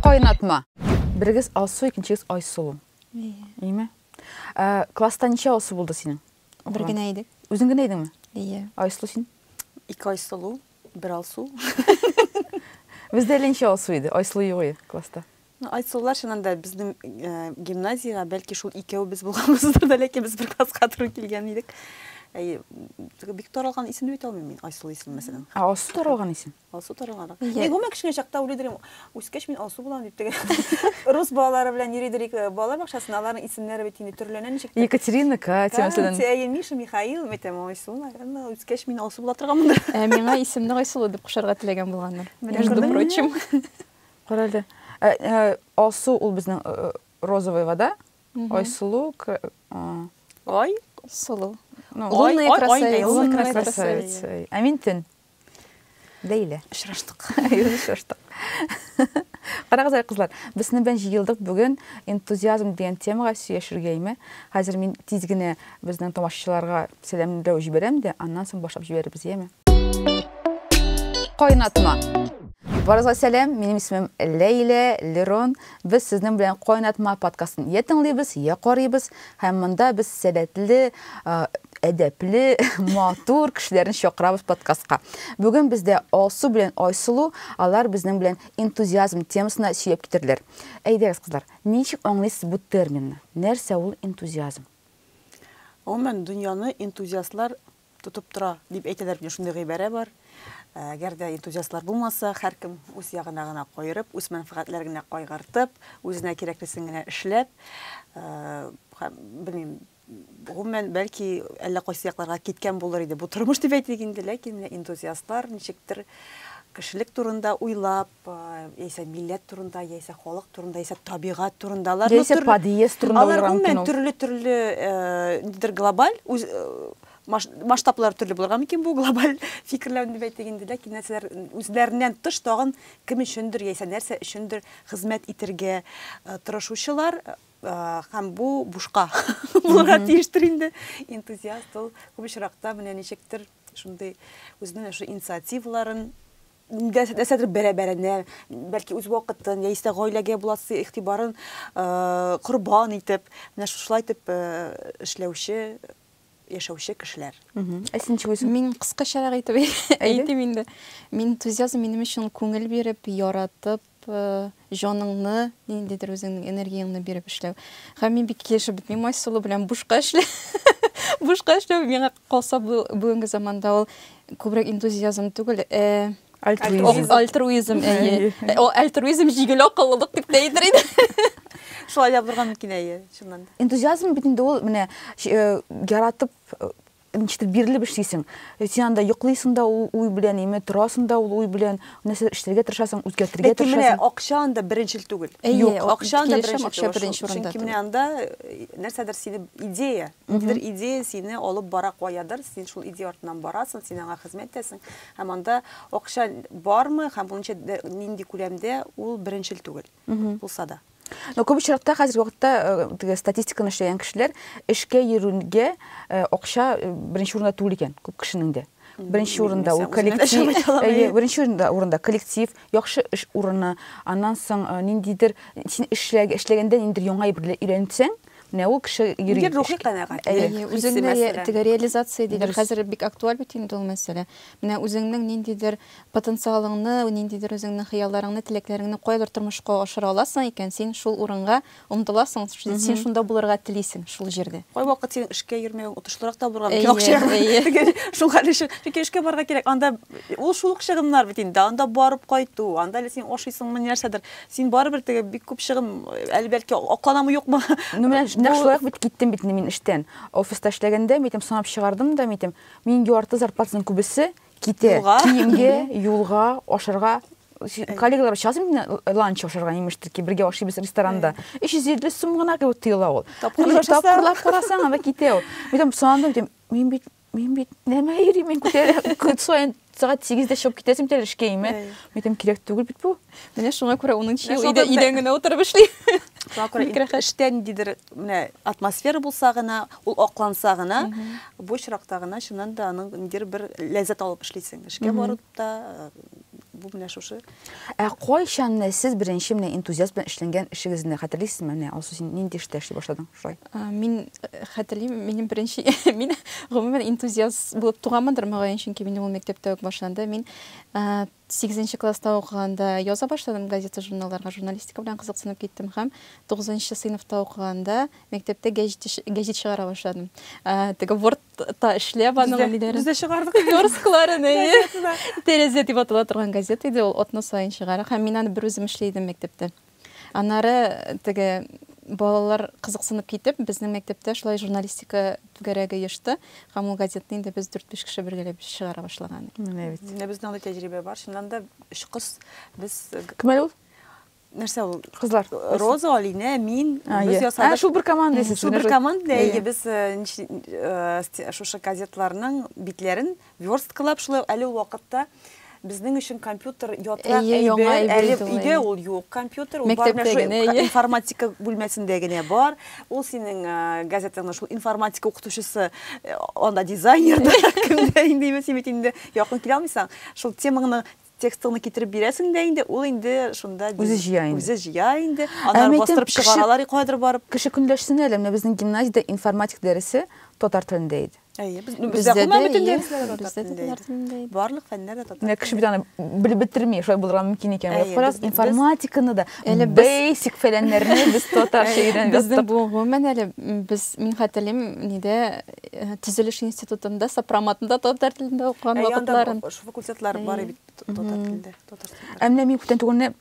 Кайнатма. Берегез Алсу, икенчегез Айсылу. Ияме? Ә, класста ничә Алсу булды синең? Бер генә идек. Үзең генә идеңме? Ия. Айсылу син? Ике Айсылу, бер Алсу. Бездә әле ничә Алсу иде? Айсылу юк класста. Ну, Айсуллар чыннан да безнең э, гимназиягә бәлки шул икәвебез булганбыздыр да, ләкин без бер класска туры килгән идек. Әй, теге бик таралган исем дип әйтә алмыйм мин, Айсул исеме мәсәлән. Ә Алсу таралган исем. Алсу таралганрак. Иә. Мин гомумән кечкенә чакта уйлый идем, үскәч мин Алсу булам дип теге. Рус балалары белән йөри идек э, балалар бакчасына, аларның исемнәре бит инде төрләнә ничек. тә. Екатерина, Катя мәсәлән. Катя, әйе, Миша, Михаил, мин әйтәм, Айсул, наверное, үскәч мин Алсу була торганмындыр. Ә миңа исемне Айсылу дип кушарга теләгән булганнар. Менә Между күрдеңме? прочим. Карале. Ә, ә, алсу ул безнең э, э, розовый вода. Айсылу, к- а, Ай, Сылу. ну, Ай, Лунная ай, ай, красавица. лунная Лунная красавица. красавица. Ә мин төн. Ләйлә. Очраштык. Юзы шаштык. Карагыз әле, кызлар, без сезнең белән җыелдык бүген энтузиазм дигән темага сөйләшергә име? Хәзер мин тиз генә безнең тамашачыларга сәламләү җибәрәм дә, аннан соң башлап җибәрербез, яме? Кайнатма. Барыгызга сәлам, минем исемем Ләйлә Лерон. Без сезнең белән Кайнатма подкастын я тыңлыйбыз, я карыйбыз. Һәм монда без сәләтле, әдәпле, матур кешеләрне чакырабыз подкастка. Бүген бездә Алсу белән Айсылу, алар безнең белән энтузиазм темасына сөйләп китерләр. Әйдәгез, кызлар, ничек аңлыйсыз бу терминны? Нәрсә ул энтузиазм? Гомумән, дөньяны энтузиастлар тотып тора дип әйтәләр бит, шундый гыйбарә бар. Ә, әгәр дә энтузиастлар булмаса, һәркем үз ягына гына каерып, үз мәнфәгатьләрен генә кайгыртып, үзенә кирәклесен генә эшләп, ә, һәм, белмим, гомумән, бәлки, әллә кайсы якларга киткән булыр иде бу тормыш дип әйтик инде, ләкин энтузиастлар ничектер кешелек турында уйлап, яисә милләт турында, яисә халык турында, яисә табигать турында. Алар яисә подъезд турында. Алар гомумән төрле-төрле нидер глобаль масштаблар төрле булырга мөмкин бу глобаль фикерләү дип әйтик инде, ләкин нәрсәләр үзләреннән тыш тагын кем өчендер яисә нәрсә өчендер хезмәт итәргә тырышучылар һәм бу бушка булырга тиештер инде. Энтузиаст ул күп очракта менә ничектер шундый үзенең шундый инициативаларын Нәрсә- Нәрсәдер бәрабәренә, бәлки үз вакытын яисә дә гаиләгә буласы игътибарын э, корбан итеп, менә шушылай итеп э, эшләүче, яшәүче кешеләр. Мгм. Ә син ничек үзең? Мин кыскачарак итеп әйтим инде. Мин энтузиазм минем өчен күңел биреп, яратып, җаныңны, ниндидер үзеңнең энергияңне биреп эшләү. Һәм мин бик килешеп бетмим Айсылу белән бушка эшләү. бушка эшләү миңа калса бүгенге заманда ул күбрәк энтузиазм түгел, э, альтруизм. Альтруизм, әйе. Э, ул альтруизм җигел акыллылык дип тә әйтер идем. Шулай да булырга мөмкин әйе, чыннан да. Энтузиазм бит инде ул менә э, яратып э, Ничектер бирелеп эшлисең. Син анда йоклыйсың да ул уй белән, яме торасың да ул уй белән, нәрсәдер эшләргә тырышасың, үзгәртергә Ләкин менә тырышасың. акча анда беренчел түгел. Әйе, Юк, ак- акча анда килешәм, беренчел акча түгел. беренче Шул- урында Чөнки менә түгел. анда э, нәрсәдер сине идея, ниндидер идея сине алып бара каядыр, син шул идея артыннан барасың, син аңа хезмәт итәсең. Һәм анда акча бармы һәм ул ничә дә- нинди күләмдә, ул беренчел түгел. Булса да. Но күп очракта хәзерге вакытта э, теге статистиканы эшләгән кешеләр эшкә йөрүгә э, акча э, беренче урында түгел икән күп кешенең дә. Беренче урында ул коллектив, әйе, беренче урында урында коллектив, яхшы эш урыны, аннан соң э, ниндидер син эшләг, эшләгәндә ниндидер яңа әйбер өйрәнсәң, менә ул кеше йөри. Нидер рухи канәгать. Әйе, Хисе үзеңне мәсәлән. теге реализация диләр. Дөрес. Хәзер бик актуаль бит инде ул мәсьәлә. Менә үзеңнең ниндидер Потенциалыңны, ниндидер үзеңнең хыялларыңны, теләкләреңне каядыр тормышка ашыра аласың икән, син шул урынга омтыласың, син шунда булырга телисең, шул җирдә. Кайвакыт синең эшкә йөрмәвең отышлырак та булырга мөмкин, акча ягыннан. Шул хәл өчен, чөнки эшкә барырга кирәк, анда ул шул ук чыгымнар бит инде, анда барып кайту, анда әле син ашыйсыңмы, ни нәрсәдер, син барыбер теге бик күп чыгым, әле бәлки акланамы, юкмы. Ну менә нәкъ шулай ук бит киттем бит инде мин эштән. Офиста эшләгәндә, мин әйтәм, санап чыгардым да, мин әйтәм, мин ярты зарплатаның күбесе Китә. Юлга. Киемгә, юлга, ашарга. Коллегалар аша алсам, мин ланч ашарга имеш таки, бергә ашыйбыз ресторанда. 350 сум гына кебек тоела ул. Тапкырлар Мин ашасаң. Тапкырлар карасаң, анда китә ул. Мин санадым, дим, мин бит мин бит нәмә йөрим, мин күтәрәм. Көн саен сәгать 8-дә чыгып китәсем тәлешкәйме? Мин әйтәм, кирәк түгел бит бу. Менә шуңа күрә 10 нчы ел өйдән генә утырып эшли. Шуңа күрә эштә ниндидер менә атмосфера булса гына, ул акланса гына, бу очракта гына чыннан да аның ниндидер бер ләззәт алып эшлисең. Эшкә барып та бу менә шушы. Ә кайчан менә сез беренче менә энтузиаст белән эшләнгән эшегезне хәтерлисезме? Менә Алсу, син нинди эштә эшли башладың шулай? Мин хәтерлим, минем беренче мин гомумән энтузиаст булып туганмындыр, мөгаен, чөнки минем ул мәктәптә үк башланды. Мин Сигезенче класста укыганда яза башладым газета-журналларга, журналистика белән кызыксынып киттем һәм тугызынчы сыйныфта укыганда мәктәптә гәҗит гәҗит чыгара башладым. Теге Word-та эшләп аның ниләрен. Без дә чыгардык. Верскларын, әйе. Тәрәзә дип атала торган газета иде ул, атна саен чыгардык һәм мин аны берүзем эшли идем мәктәптә. Аннары теге балалар кызыксынып китеп, безнең мәктәптә шулай журналистика түгәрәге оешты. Һәм ул газетны инде без 4-5 кеше бергәләп чыгара башлаган. Менә бит. Менә безнең андый тәҗрибә бар. Чыннан да өч кыз без Кем әле ул? Нәрсә ул? Кызлар. Роза, Алинә, мин. Без ясадык. Шул бер команда исез. Шул бер команда. Әйе, без шушы газетларның битләрен Версткалап шулай ук әле ул вакытта безнең өчен компьютер ятрак Әйе, яңа әйбер, әйбер әле иде ул, өйдә әйе. ул юк компьютер, ул бар Мәктәптә менә шул генә, әйе. информатика бүлмәсендә генә бар. Ул синең ә, газетаңның шул информатика укытучысы, э, анда дизайнер да, кемдә инде имеш, син бит инде якын килә алмыйсың. Шул темаңны, текстыңны китереп бирәсең дә инде, ул инде шунда диз- Үзе җыя инде. Үзе җыя инде. Ә Аннары мәйтәм, бастырып кеше- чыгаралар и каядыр барып. Кеше көнләшсен әле, менә безнең гимназиядә информатик дәресе татар телендә иде. Әйе, без ну, бездә гомумән бөтен дәресләр татар телендә иде. Барлык фәннәр дә татар телендә. Кеше бит аны белеп бетерми, шулай булырга мөмкин икән. Фараз информатиканы да, әле бейсик фәләннәрне без татарча өйрәнеп Безнең бу гомумән әле без мин хәтерлим, ниде э, төзелеш институтында сопроматында татар телендә укыган вакытларын. Факультетлар бар бит татар телендә, татар телендә. Ә менә мин күптән түгелне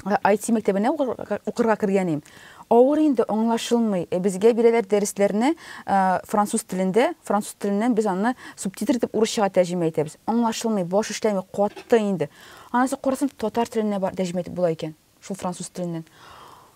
IT мәктәбенә укырга кергәнем. Авыр инде, аңлашылмый. Э, безгә бирәләр дәресләрне э, француз телендә, француз теленнән без аны субтитр итеп урысчага тәрҗемә итәбез. Аңлашылмый, баш эшләми, катты инде. Анысы карасам татар теленә тәрҗемә итеп була икән, шул француз теленнән.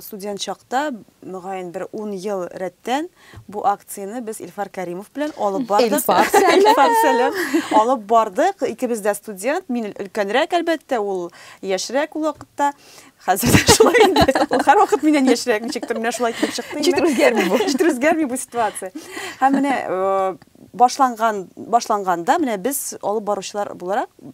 Студент чакта, мөгаен, бер ун ел рәттән бу акцияне без Илфар Кәримов белән алып бардык. Илфар сәлам! Илфар сәлам! Алып бардык. Икебез дә студент. Мин өлкәнрәк, әлбәттә, ул яшьрәк ул вакытта. Хәзер дә шулай инде. Ул һәрвакыт миннән яшьрәк, ничектер менә шулай килеп чыкты. Ничектер үзгәрми бу. Ничектер үзгәрми бу ситуация. Һәм менә э, башланган, башланганда менә без алып баручылар буларак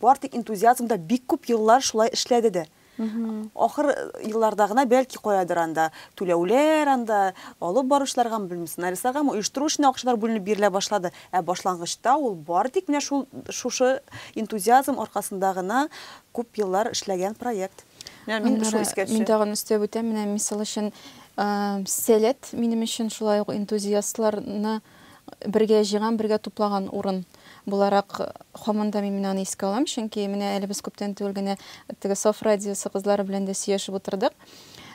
Бар тик энтузиазмда бик күп еллар шулай эшләде дә. Ахыр елларда гына бәлки каядыр анда түләүләр, анда алып баручыларгамы, белмим, сценаристларгамы, оештыру өчен акчалар бүленеп бирелә башлады. Ә башлангычта ул бары тик менә шул, шушы энтузиазм аркасында гына күп еллар эшләгән проект. Менә мин шул искә төшә. Мин тагын өстәп үтәм, менә мисал өчен, Сәләт минем өчен шулай ук энтузиастларны, Бергә җыйган, бергә туплаган урын буларак һаман да мин менә аны искә алам, чөнки менә әле без күптән түгел генә теге Саф радиосы кызлары белән дә сөйләшеп утырдык.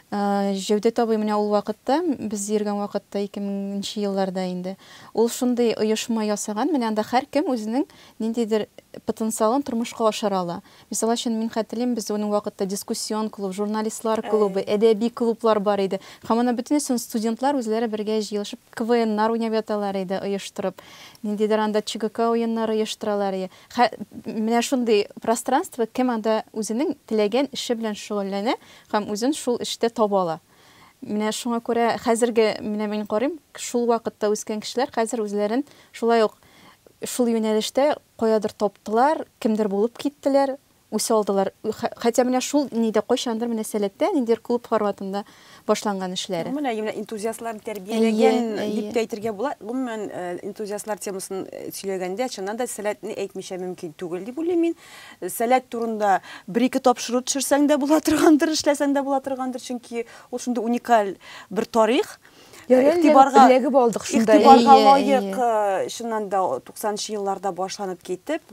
Җәүдәт абый менә ул вакытта, без йөргән вакытта, 2000 нче елларда инде, ул шундый оешма ясаган, менә анда һәркем үзенең ниндидер потенциалын тормышка ашыра ала. Мисал өчен, мин хәтерлим, бездә уның вакытта дискуссион клуб, журналистлар клубы, әдәби клублар бар иде. Һәм аны бөтенесен студентлар үзләре бергә җыелышып, КВНнар уйнап яталар иде, оештырып. Ниндидер анда ЧГК уеннары оештыралар иде. Хә, менә шундый пространство, кем анда үзенең теләгән эше белән шөгыльләнә һәм үзен шул эштә таба ала. Менә шуңа күрә хәзерге, менә мин карыйм, шул вакытта үскән кешеләр хәзер үзләрен шулай ук шул юнәлештә Каядыр таптылар, кемдер булып киттеләр, үсә алдылар. Хәтта менә шул нидә, кайчандыр менә Сәләттә, ниндидер клуб форматында башланган эшләре. Гомумән, әйе, менә энтузиастларны тәрбияләгән дип тә әйтергә була. Гомумән, энтузиастлар темасын сөйләгәндә, чыннан да Сәләтне әйтмичә мөмкин түгел дип уйлыйм мин. Сәләт турында бер-ике тапшыру төшерсәң дә була торгандыр, эшләсәң дә була торгандыр, чөнки ул шундый уникаль бер тарих. игътибарга эләгеп алдык шунда. Игътибарга лаек, чыннан да 90нчы елларда башланып китеп,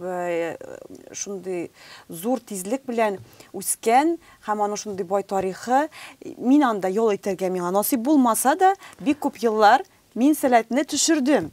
шундый зур тизлек белән үскән һәм аның шундый бай тарихы. Мин анда ял итәргә миңа насыйп булмаса да, бик күп еллар мин сәләтне төшердем.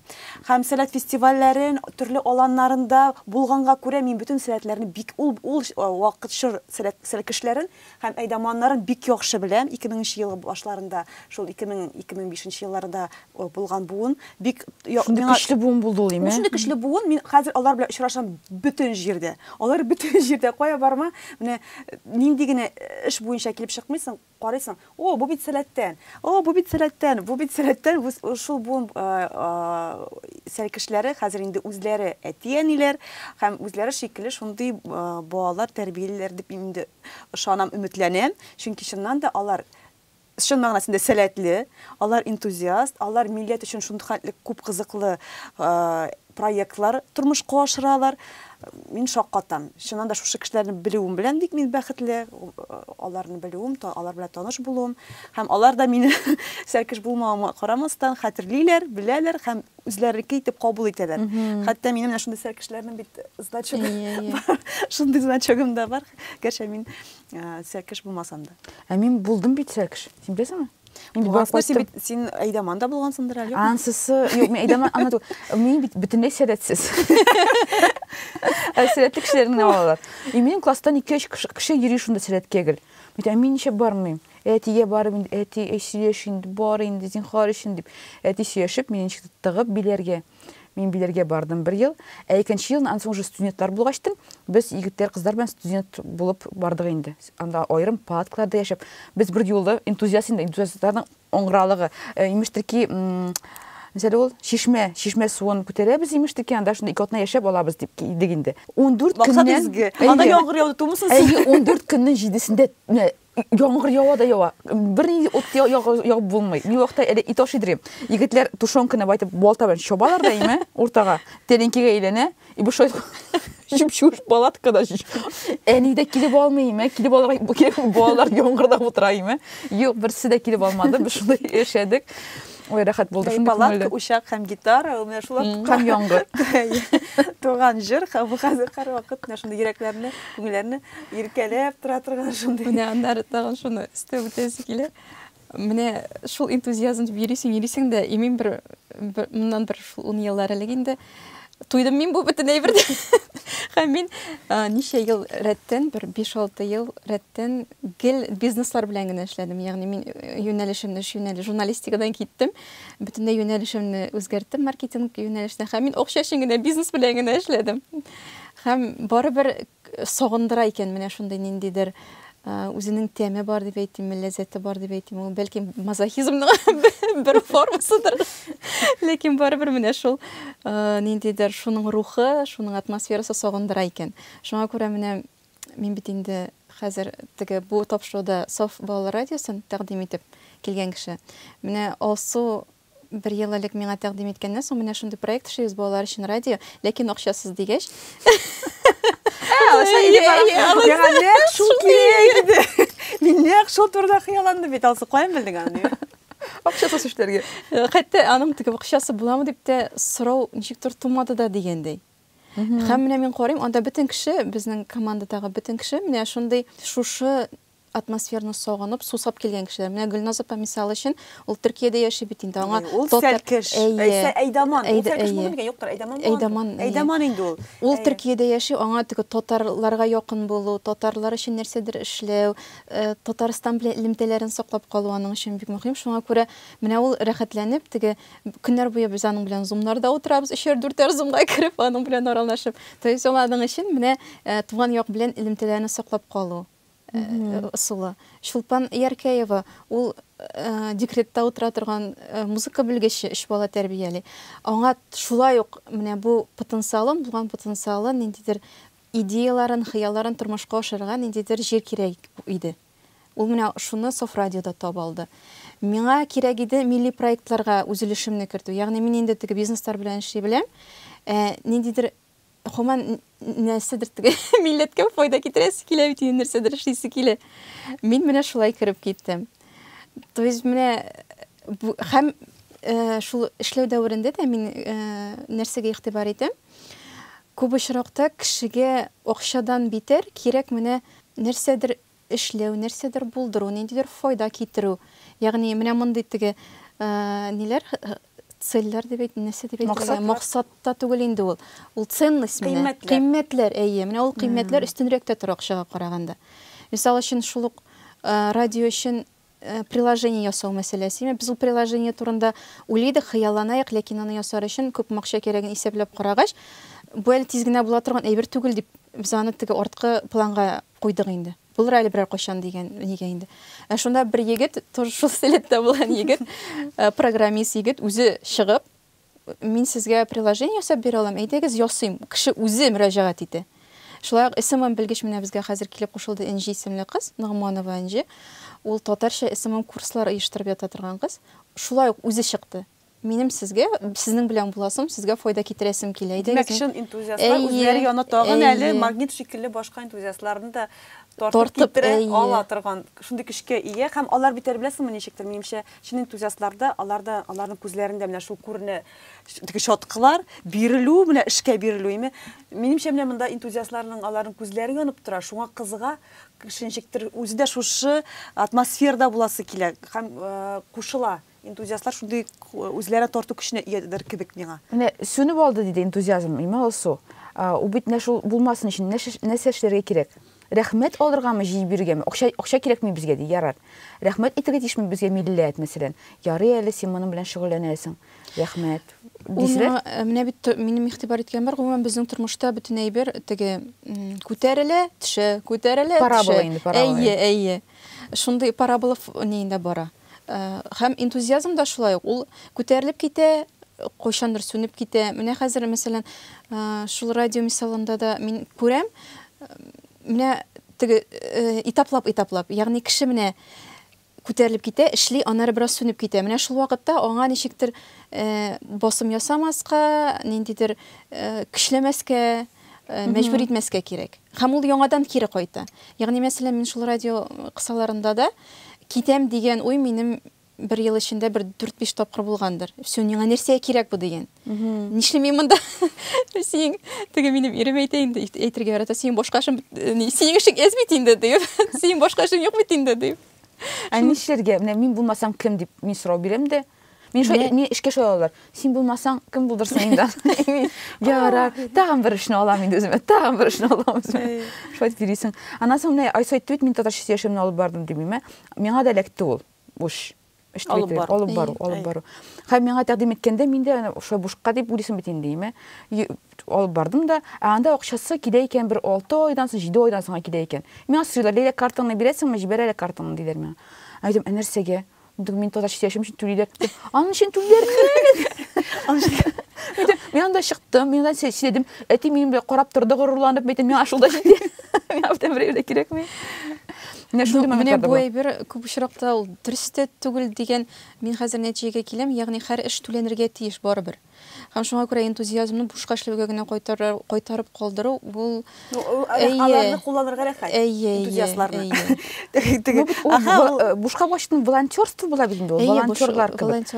Һәм сәләт фестивальләрен, төрле аланнарында булганга күрә, мин бөтен сәләтләрне бик ул вакыт чор сәләт кешеләрен Һәм әйдаманнарын бик яхшы беләм, ике меңенче ел башларында, шул ике мең, ике мең бишенче елларда булган буын, бик я, Шундый миңа, көчле буын булды ул, име? Шундый көчле буын, мин хәзер алар белән очрашам бөтен җирдә. Алар бөтен җирдә, кая барма, менә нинди генә эш буенча килеп чыкмыйсың, карыйсың, о, бу бит Сәләттән, о, бу бит Сәләттән, бу бит Сәләттән, шул буын сәлкешләре хәзер инде үзләре әти-әниләр һәм үзләре шикелле шундый балалар тәрбиялиләр дип мин инде Ышанам, өметләнәм, чөнки чыннан да алар чын мәгънәсендә сәләтле, алар энтузиаст, алар милләт өчен шулхәтле күп кызыклы проектлар тормышка ашыралар. Мин шаккатам. Чыннан да шушы кешеләрне белүем белән бик мин бәхетле, аларны белүем, алар белән таныш булуым. Һәм алар да мине сәркеш булмавыма карамастан хәтерлиләр, беләләр һәм үзләренеке итеп кабул итәләр. Хәтта минем менә шундый сәкешләрнең бит значогы бар. Шундый значогым да бар. Гәрчә мин сәкеш булмасам да. Ә мин булдым бит сәкеш. Син беләсеңме? Мин бик син бит син Айдаман да булгансыңдыр әле. Ансысы, юк, мин Айдаман ана түгел. Мин бит бөтенләй сәләтсез. Ә сәләтле кешеләрне алалар. И минем класстан 2-3 кеше йөри шунда сәләткә гел. Мин ничек бармыйм? Әтигә барып инде, әти, әй, сөйләш инде, бар инде, зинхар өчен, дип, әти сөяшеп, мине ничек тә тыгып биләргә. Мин биләргә бардым бер ел. Ә икенче елны, аннан соң уже студентлар булгач тын, без егетләр, кызлар белән студент булып бардык инде. Анда аерым палаткаларда яшәп, без берьюлы энтузиаст инде, энтузиастларның аңгыралыгы. Э, имеш тирки, Мисәле ул чишмә, чишмә суын күтәрәбез имеш дикен, анда шунда ике атна яшәп алабыз дип кидек инде. 14 көннән... Максат изге. Анда яңгыр яуды, тумысын сез. Әйе, 14 көннән җидесендә Яңгыр ява да ява. Бернинди ут ягып булмый. Ни вакытта әле ит ашыйдыр. Егетләр тушенканы байтып балта белән чабалар да име уртага. Тәлинкегә әйләнә. И бу шайт чүп-чүп палаткада. Әни дә килеп алмый име? Килеп алырга бу килеп балалар яңгырда утыра име? Юк, берсе дә килеп алмады. Без шулай яшәдек. Ой, рәхәт булды. Шундый палатка, учак һәм гитара, ул менә шулар һәм яңгыр. Туган җыр, бу хәзер һәрвакыт менә шундый йөрәкләрне, күңелләрне Иркәләп тора торган шундый. Менә аннары тагын шуны өстәп үтәсе килә. Менә шул энтузиазм дип йөрисең, йөрисең дә, имин бер, бер моннан бер шул 10 еллар элек инде туйдым мин бу бөтен әйбердә. Һәм мин ничә ел рәттән, бер 5-6 ел рәттән гел бизнеслар белән генә эшләдем. Ягъни мин юнәлешемне, эш юнәле журналистикадан киттем. Бөтенләй юнәлешемне үзгәрттем маркетинг юнәлешенә. Һәм мин акча өчен генә бизнес белән генә эшләдем. Һәм барыбер Сагындыра икән менә шундый ниндидер үзенең тәме бар дип әйтимме, ләззәте бар дип әйтимме, ул бәлки мазохизмның бер формасыдыр. Ләкин барыбер менә шул ниндидер шуның рухы, шуның атмосферасы сагындыра икән. Шуңа күрә менә мин бит инде хәзер теге бу тапшыруда Саф балалар радиосын тәкъдим итеп килгән кеше. Менә Алсу Бер ел элек миңа тәкъдим иткәннән соң, менә шундый проект эшлибез, балалар өчен радио, ләкин акчасыз, дигәч. Миңа нәкъ шул кирәк иде. Мин нәкъ шул турыда хыялландым бит, Алсу, каян белдең аны? Акчасыз эшләргә. Хәтта аның теге акчасы буламы дип тә сорау ничектер тумады да дигәндәй. Һәм менә мин карыйм, анда бөтен кеше, безнең командадагы бөтен кеше менә шундый шушы Атмосфераны сагынып, сусап килгән кешеләр. Менә Гөлназ апа мисал өчен, ул Төркиядә яши бит инде. Аңа ул сәлкеш. Әйе. Әйдаман. Ул сәлкеш булмый микән? Юктыр, Әйдаман. Әйдаман. Әйдаман инде ул. Ул Төркиядә яши, аңа теге татарларга якын булу, татарлар өчен нәрсәдер эшләү, Татарстан белән элемтәләрен саклап калу аның өчен бик мөһим. Шуңа күрә менә ул рәхәтләнеп, теге көннәр буе без аның белән зумнарда утырабыз, өчәр-дүртәр зумга кереп, аның белән аралашып. То есть ул аның өчен менә туган як белән элемтәләрне саклап калу. ысулы. Чулпан Яркәева, ул декретта утыра торган музыка белгече, өч бала тәрбияли. Аңа шулай ук менә бу потенциалын, булган потенциалын, ниндидер идеяларын, хыялларын тормышка ашырырга ниндидер җир кирәк иде. Ул менә шуны Соф радиода таба алды. Миңа кирәк иде милли проектларга үз өлешемне кертү. Ягъни мин инде теге бизнеслар белән эшли беләм. Ниндидер гомумән, нәрсәдер теге милләткә файда китерәсе килә бит, инде нәрсәдер эшлисе килә. Мин менә шулай кереп киттем. То есть менә бу һәм э, шул эшләү дәверендә дә мин э, нәрсәгә игътибар итәм? Күп очракта кешегә акчадан битәр кирәк менә нәрсәдер эшләү, нәрсәдер булдыру, ниндидер файда китерү. Ягъни менә мондый теге ниләр цельләр дип әйт, нәрсә дип әйтергә? Максат та түгел инде ул. Ул ценность менә. Кыйммәтләр. Әйе, менә ул кыйммәтләр өстенрәк тә тора акчага караганда. Мисал өчен шул ук радио өчен Приложение ясау мәсьәләсеме? Без ул приложение турында уйлыйдык, хыялланаек, ләкин аны ясар өчен күпме акча кирәген исәпләп карагач, бу әле тиз генә була торган әйбер түгел дип, без аны теге арткы планга куйдык инде. Булыр әле берәр кайчан дигән нигә инде. Ә шунда бер егет, тоже шул сәләттә булган егет, программист егет үзе чыгып, Мин сезгә приложение ясап бирә алам, әйдәгез ясыйм. Кеше үзе мөрәҗәгать итә. Шулай ук СММ белгеч менә безгә хәзер килеп кушылды Энҗи исемле кыз, Ногманова Энҗи. Ул татарча СММ курслар оештырып ята торган кыз. Шулай ук үзе чыкты. Минем сезгә, сезнең белән буласым, сезгә файда китерәсем килә. Әйдәгез. Димәк, чын энтузиастлар үзләре яны тагын әле магнит шикелле башка энтузиастларны да тартып китерә ала торган шундый көчкә ия һәм алар бит әле беләсеңме ничектер, минемчә, Чын энтузиастларда, аларда, аларның күзләрендә менә шул күренә теге чаткылар, бирелү, менә эшкә бирелү име. Минемчә менә монда энтузиастларның аларның күзләре янып тора, шуңа кызга кешенчектер үзе дә шушы атмосферада буласы килә һәм кушыла. Энтузиастлар шундый үзләренә тарту көченә иядер кебек миңа. Менә сүнеп алды, диде энтузиазм, имә Алсу. Ул бит менә шул булмасын өчен нәрсә эшләргә кирәк? Рәхмәт алыргамы, җыеп бирергәме? Акча, акча кирәкми безгә, ди. Ярар. Рәхмәт әйтергә тиешме безгә милләт, мәсәлән? Ярый әле син моның белән шөгыльләнәсең. Рәхмәт. Ул Дисезләр? миңа, э, менә бит т минем игътибар иткән бар, гомумән безнең тормышта бөтен әйбер теге, м, күтәрелә, төшә, күтәрелә, төшә. Парабола инде, парабола. Әйе, әйе. Шундый парабола ф нигендә бара. Һәм энтузиазм да шулай ук, ул күтәрелеп китә, кайчандыр сүнеп китә. Менә хәзер, мәсәлән, шул радио мисалында да мин күрәм, менә теге этаплап-этаплап, ягъни кеше менә күтәрелеп китә, эшли, аннары бераз сүнеп китә. Менә шул вакытта аңа ничектер басым ясамаска, ниндидер көчләмәскә, мәҗбүр итмәскә кирәк. Һәм ул яңадан кире кайта. Ягъни, мәсәлән, мин шул радио кысаларында да китәм дигән уй минем бер ел эчендә бер 4-5 тапкыр булгандыр. Все, миңа нәрсә кирәк бу дигән. Нишлим мин монда? Синең теге минем ирем әйтә инде, әйтергә ярата, синең башка эшең, синең эшең эз бит инде дип. Синең башка эшең юк бит инде дип. Ә нишләргә? Менә мин булмасам кем дип мин сорау бирәм дә. Мин шо, мин эшкә шулай алалар. Син булмасаң, кем булдырсын инде? Ярар, тагын бер эшне алам инде үземә, тагын бер эшне алам үземә. Шулай дип йөрисең. Аннан соң менә Айсу әйтте бит, мин татарча сөйләшүемне алып бардым димиме? Миңа да эләкте ул. Буш. Эш алып бару, алып бару, алып бару. Хәм миңа тәкъдим иткәндә мин дә шулай бушка дип уйлыйсың бит инде, име? Алып бардым да, ә анда акчасы килә икән бер 6 айдан соң, 7 айдан соң килә икән. Миңа сорыйлар, Ләйлә картаңны бирәсеңме, җибәрәләр картаңны диләр миңа. Әйтәм, ә нәрсәгә? Дым мин таза читәшем өчен түлиләр. Аның өчен түлиләр. Мин анда чыктым, мин анда читәдем. Әти минем белән карап торды горурланып, әйтем, миңа шул да җитә. Миңа бүтән берәү дә кирәкми. Менә шундый моментлар да бар. Менә бу әйбер күп очракта ул дөрес тә түгел дигән мин хәзер нәтиҗәгә киләм, ягъни һәр эш түләнергә тиеш барыбер. Һәм шуңа күрә энтузиазмны бушка эшләүгә генә кайтарып калдыру, ул аларны кулланырга рәхәт. Әйе, энтузиастларны. Бушка башның волонтерство була бит инде ул, волонтерлар кебек.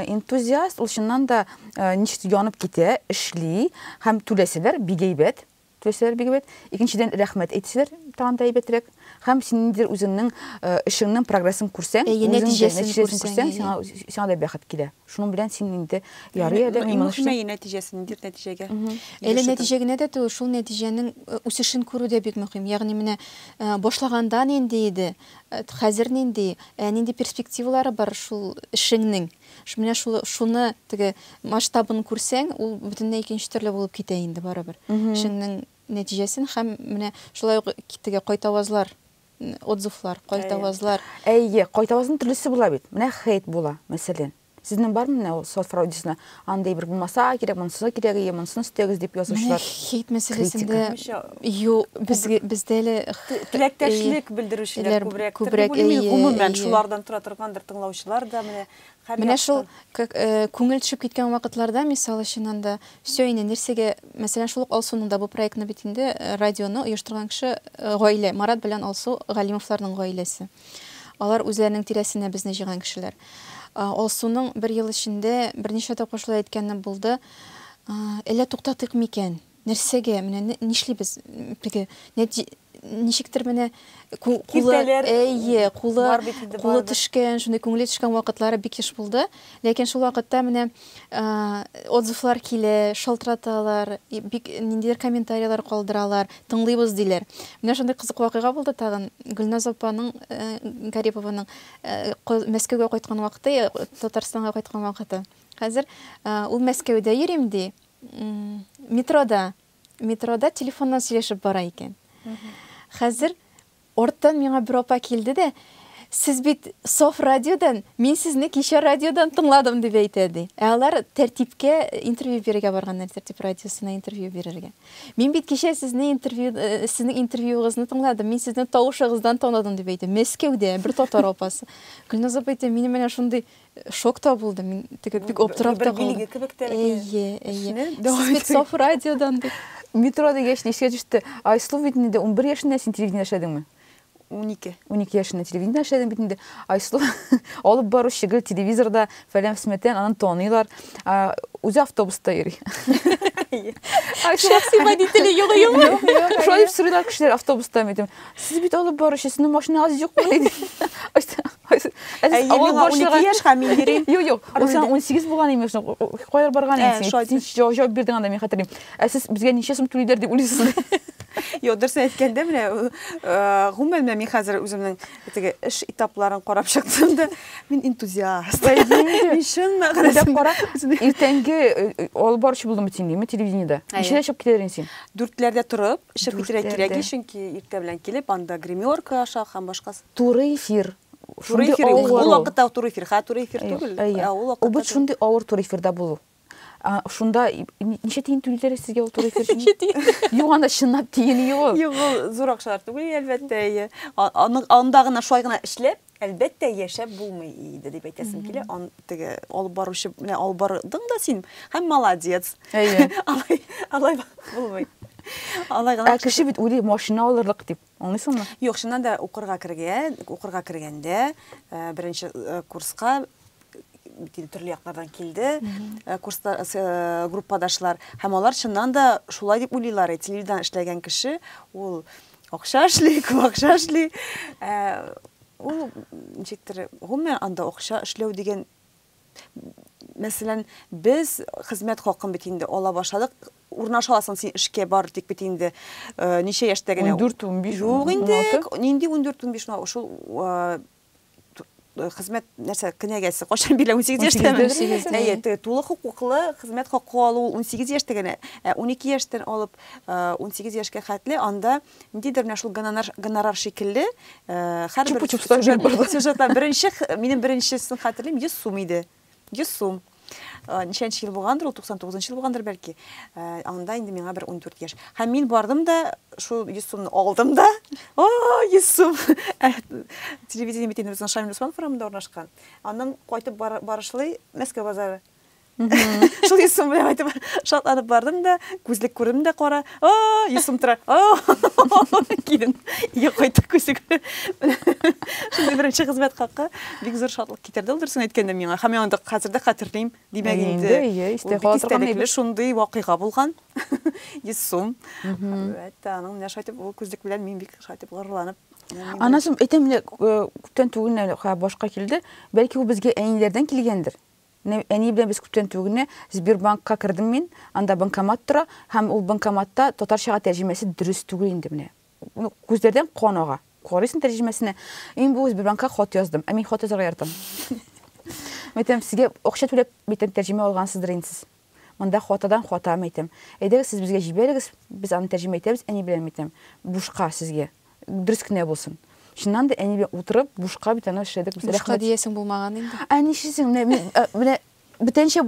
Энтузиаст ул чыннан да ничек янып китә, эшли һәм түләсәләр бик әйбәт. Теләсәләр бик әйбәт. Икенчедән, рәхмәт әйтсәләр, тагын да әйбәтрәк. Һәм син ниндидер үзеңнең эшеңнең прогрессын күрсәң, Әйе, үзең дә нәтиҗәсен нәтиҗәсен күрсәң, күрсәң, әйе. сиңа сиңа да бәхет килә. Шуның белән син инде ярый әле, мин моны эшлим. нәтиҗәсе, ниндидер нәтиҗәгә. Әле нәтиҗә генә дә түгел, шул нәтиҗәнең үсешен күрү дә бик мөһим. Ягъни менә башлаганда нинди иде, хәзер нинди, ә нинди перспективалары бар шул эшеңнең? Менә шулы, шуны теге масштабын күрсәң, ул бөтенләй икенче төрле булып китә инде барыбер. Эшеңнең нәтиҗәсен һәм менә шулай ук теге кайтавазлар, отзывлар, кайтавазлар. Әйе, кайтавазның төрлесе була бит. Менә хейт була, мәсәлән. Сезнең бармы менә ул соцфорау дисына, андый бер булмаса кирәк, монысы кирәк, әйе, монысын өстәгез дип язучылар? Менә хейт мәсьәләсендә. Юк, без бездә лә теләктәшлек белдерүчеләр күбрәк. Күбрәк әйе. Гомумән шулардан тора торгандыр тыңлаучылар да менә һәр Менә шул э, күңел төшеп киткән вакытларда, мисал өчен анда, все инде нәрсәгә, мәсәлән, шул ук Алсуның да бу проектны бит инде э, радионы оештырган кеше э, гаилә, Марат белән Алсу Галимовларның гаиләсе. Алар үзләренең тирәсенә безне җыйган кешеләр. Алсуның бер ел эчендә берничә тапкыр шулай әйткәне булды. Әллә туктатыйк микән? Нәрсәгә, менә нишлибез теге, нәти ничектер менә ку- кулы, Киртәләр әйе, кулы, бар бит инде, кулы барыбер. төшкән, шундый күңеле төшкән вакытлары бик еш булды. Ләкин шул вакытта менә а, отзывлар килә, шалтыраталар, и- бик ниндидер комментарийлар калдыралар, тыңлыйбыз диләр. Менә шундый кызык вакыйга булды тагын. Гөлназ апаның, э, Гарипованың э, ка- Мәскәүгә кайткан вакыты, я Татарстанга кайткан вакыты. Хәзер э, ул Мәскәүдә йөрим, ди. Метрода, метрода телефоннан сөйләшеп бара икән. Хәзер орттан миңа бер апа килде дә, сез бит Соф радиодан, мин сезне кичә радиодан тыңладым дип әйтә ди. Ә алар тәртипкә интервью бирергә барганнар, тәртип радиосына интервью бирергә. Мин бит кичә сезне интервью, э, сезнең интервьюыгызны тыңладым, мин сезне тавышыгыздан таныдым дип әйтә. Мәскәүдә бер татар апасы. Гөлназ апа әйтә, минем менә шундый Шок та булды, мин теге бик аптырап та калдым. Бер кебек тә. Әйе, әйе. Сез бит саф радиодан дип. Метро дигәч, нечкә төште. Айсылу бит инде 11 яшендә син телевидение эшләдеңме? 12. 12 яшендә телевидение эшләдең бит инде. Айсылу алып баручы гел телевизорда фәлән фсмәтән аны таныйлар. Үзе автобуста йөри. Шәхси водителе юк юк. Шулай дип сорыйлар кешеләр автобуста мидем. Сез бит алып баручы, сезнең машинагыз юкмы? диде. Айсә, Айсә, ә сез Әйе, авыл миңа башлыгы- 12 яшь һәм мин йөрим. Юк, юк. Ул Рульдә. сиңа 18 булган имеш. Ну, о- о, Кая барган Ә, инде син? шулай Син дисең. җавап- җавап бирдең анда, мин хәтерлим. Ә сез безгә ничә сум түлиләр дип уйлыйсыз? Йо, дөресен әйткәндә менә ул, э, гомумән менә мин хәзер үземнең теге эш этапларын карап чыктым да, мин энтузиаст. Мин чын Уйлап мәгънәсендә кара, үземне- иртәнге э, э, алып баручы булдың бит син, димме, телевидениедә. Әйе. Ничәдә чыгып китәр идең син? дүртләрдә торып, Эче петергә кирәк ич, чөнки иртә белән килеп, анда гримерка ашау һәм башкасы. Туры эфир. Туры эфир, ул вакытта туры эфир, хәзер туры эфир түгел. Әйе, ул вакытта. Ул бит шундый авыр туры эфирда булу. Шунда ничә тиен түлиләр сезгә ул туры эфир өчен? Ничә тиен? Юк, анда чынлап тиен юк. Юк, ул зур акчалар түгел, әлбәттә, әйе. Анда гына шулай гына эшләп, Әлбәттә, яшәп булмый иде, дип әйтәсем килә. Ан теге алып баручы, менә алып бардың да син, һәм молодец. Әйе. Алай, алай булмый. Алай гына. Ә кеше бит уйлый, машина алырлык дип. Аңлыйсыңмы? Юк, чыннан да укырга кергән, укырга кергәндә, э, беренче э, курска бит инде төрле яклардан килде э, курста э, группадашлар һәм алар чыннан да шулай дип уйлыйлар э, телевидание эшләгән кеше ул Акча эшли, күп акча эшли. Ул ничектер, гомумән анда акча эшләү дигән Мәсәлән, без хезмәт хакын бит инде ала башладык. Урнаша аласың син эшкә бар дип бит инде ничә яшьтә генә. 14-15. Юк инде. Нинди 14-15 шул Э, хезмәт нәрсә кенәгәсе кашан бирелә 18 яшьтәме әйе теге тулы хокуклы хезмәт хакы алу 18 яшьтә генә ә 12 яшьтән алып 18 э, яшькә хәтле анда ниндидер менә шул гонорар гонорар шикелле э, һәрбер сюжетта беренче минем беренчесен хәтерлим 100 сум иде Йөз сум. Э, ничәнче ел булгандыр, ул 99 ел булгандыр бәлки. Э, анда инде миңа бер 14 яшь. Һәм мин бардым да, шул 100 сумны алдым да. О, 100 сум. Э, телевидение бит инде Шамил Усман форумында урнашкан. Аннан кайтып барышлый Мәскәү базары. Шул 100 сум белән кайтып шатланып бардым да, күзлек күрдем дә кара. О, 100 сум тора. О, килен. Йә кайтып күзлек. Шундый беренче хезмәт хакы бик зур шатлык китәрдә ул дөресен әйткәндә миңа һәм мин аны хәзер дә хәтерлим димәк инде истәлекле шундый вакыйга булган йөз сум әтә аның менә шулай итеп ул күзлек белән мин бик шулай итеп горурланып анасым әйтәм менә күптән түгел башка килде бәлки ул безгә әниләрдән килгәндер әни белән без күптән түгел генә сбербанкка кердем мин анда банкомат тора һәм ул банкоматта татарчага тәрҗемәсе дөрес түгел инде менә Күзләрдән кан ага. Карыйсың тәрҗемәсенә. Мин бу Сбербанкка хат яздым. Ә мин хат язарга яратам. Мәйтәм, сезгә акча түләп, мәйтәм, тәрҗемә алгансыздыр инде сез. Монда хатадан хата, мәйтәм. Әйдәгез, сез безгә җибәрегез, без аны тәрҗемә итәбез әни белән, мәйтәм. Бушка сезгә. Дөрес кенә булсын. Чыннан да әни белән утырып, бушка бит аны эшләдек без. Бушка диясең булмаган инде. Ә нишлисең, менә мин, менә бөтенчә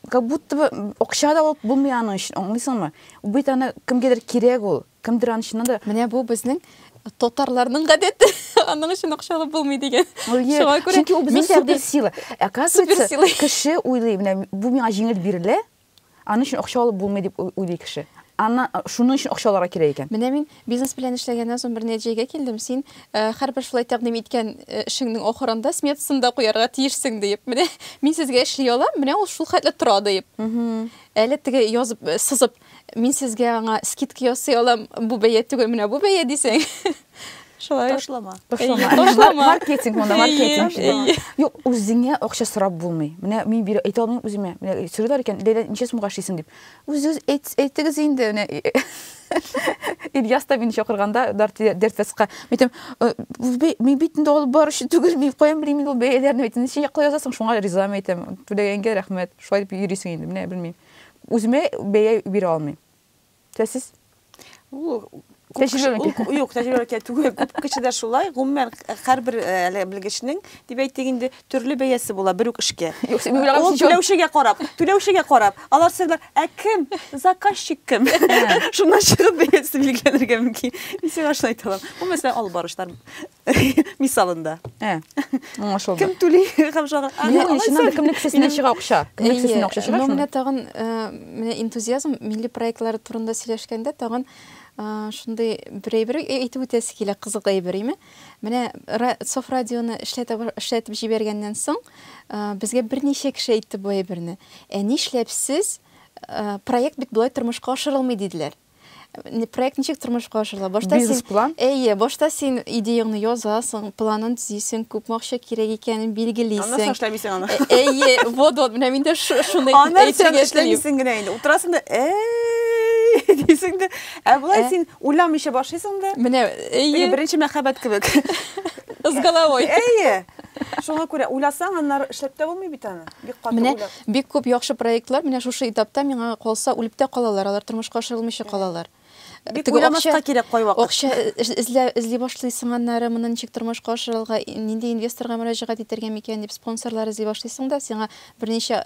как будто бы акча да алып булмый аның өчен, аңлыйсыңмы? Бит аны кемгәдер кирәк ул, кемдер аны чыннан да... Менә бу безнең татарларның гадәте, аның өчен акча алып булмый дигән. Шуңа күрә чөнки ул безнең суперсила. Оказывается, кеше уйлый, менә бу миңа җиңел бирелә, Аның өчен акча алып булмый дип уйлый кеше. Аннан шуның өчен акча алырга кирәк икән. Менә мин бизнес белән эшләгәннән соң бер нәтиҗәгә килдем, син һәрбер шулай тәкъдим иткән эшеңнең ахырында сметасын да куярга тиешсең диеп. Менә мин сезгә эшли алам, менә ул шул хәтле тора диеп. Әле теге язып, сызып, мин сезгә аңа скидка ясый алам, бу бәя түгел, менә бу бәя дисәң. Шулай. Ташлама. Ташлама. Ташлама. Маркетинг монда, маркетинг. Юк, үзеңә акча сорап булмый. Менә мин бирә әйтә алмыйм үземә. Менә сорыйлар икән, Ләйлә, ничә сумга эшлисең дип. Үзегез әйтегез инде, менә Ильяс та мине чакырганда Дертфестка. Әйтәм, мин бит инде алып баручы түгел, мин каян белим инде ул бәяләрне. Әйтәм, ничә якла язасың, шуңа ризамы әйтәм. Түләгәнгә рәхмәт. Шулай дип йөрисең инде, менә белмим. Үземә бәя бирә алмыйм. То есть сез юк тәҗрибәгә түгел күп кешедә шулай гомумән һәрбер әле белгечнең дип әйтик инде төрле бәясе була бер үк эшкә ул түләүчегә карап түләүчегә карап алар сәләр ә кем заказчик кем шуннан чыгып бәясе билгеләнергә мөмкин мин сиңа шулай әйтә алам бу мәсәлән алып баручылар Мисалында. Ә, аңлашылды. Кем түли һәм шагыйрь. Менә алай чыннан да кемнең кесәсеннән чыга акча? Кемнең кесәсеннән акча чыга? Әйе, менә тагын менә энтузиазм милли проектлары турында сөйләшкәндә тагын шундый бер әйбер әйтеп үтәсе килә, кызык әйбер, име? Менә Соф радионы эшләтеп эшләтеп җибәргәннән соң, безгә берничә кеше әйтте бу әйберне. Ә нишләп сез проект бит болай тормышка ашырылмый диделәр. проект ничек тормышка ашырыла башта бизнес план әйе башта син идеяңны язасың планын төзисең күпме акча кирәк икәнен билгелисең аннан соң эшләмисең аны әйе вот вот менә мин дә шуны аннан соң эшләмисең генә инде утырасың да әй дисең дә ә болай ә? син уйламыйча башлыйсың да менә әйе беренче мәхәббәт кебек с головой әйе шуңа күрә уйласаң аннары эшләп тә булмый бит аны бик каты менә Бик күп яхшы проектлар менә шушы этапта, миңа калса, үлеп тә калалар, алар тормышка ашырылмыйча калалар. Бик Теге уйламаска акча, кирәк кайвакыт. акча эзлә, эзли башлыйсың, аннары моны ничек тормышка ашырырга, нинди инвесторга мөрәҗәгать итәргә микән дип спонсорлар эзли башлыйсың да, сиңа берничә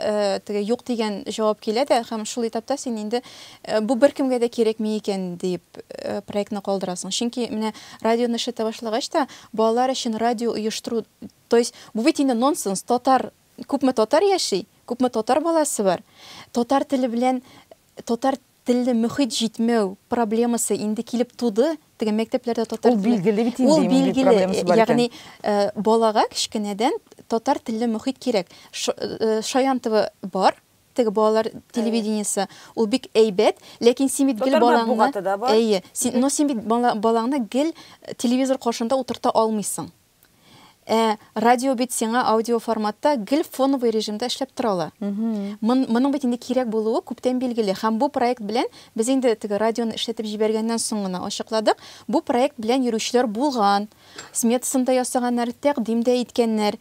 теге юк дигән җавап килә дә һәм шул этапта син инде бу беркемгә дә кирәкми икән дип проектны калдырасың. Чөнки менә радионы эшләтә башлагач та, балалар өчен радио оештыру, то есть бу бит инде нонсенс, татар Күпме татар яши, күпме татар баласы бар, татар теле белән татар телле мөхит җитмәү проблемасы инде килеп туды, теге мәктәпләрдә татар теле. Ул билгеле бит инде, мөхит проблемасы бар икән. Ягъни, балага кечкенәдән татар телле мөхит кирәк. Шаянтова бар, теге балалар телевидениесе, ул бик әйбәт, ләкин син бит гел балаңны Татар матбугаты да бар. Әйе, но син бит балаңны гел телевизор каршында утырта алмыйсың. Ә радио бит сиңа аудио форматта гел фоновый режимда эшләп тора ала. Мон, моның бит инде кирәк булуы күптән билгеле. Һәм бу проект белән без инде теге радионы эшләтеп җибәргәннән соң гына ачыкладык. Бу проект белән йөрүчеләр булган, сметасын да ясаганнар, тәкъдим дә иткәннәр.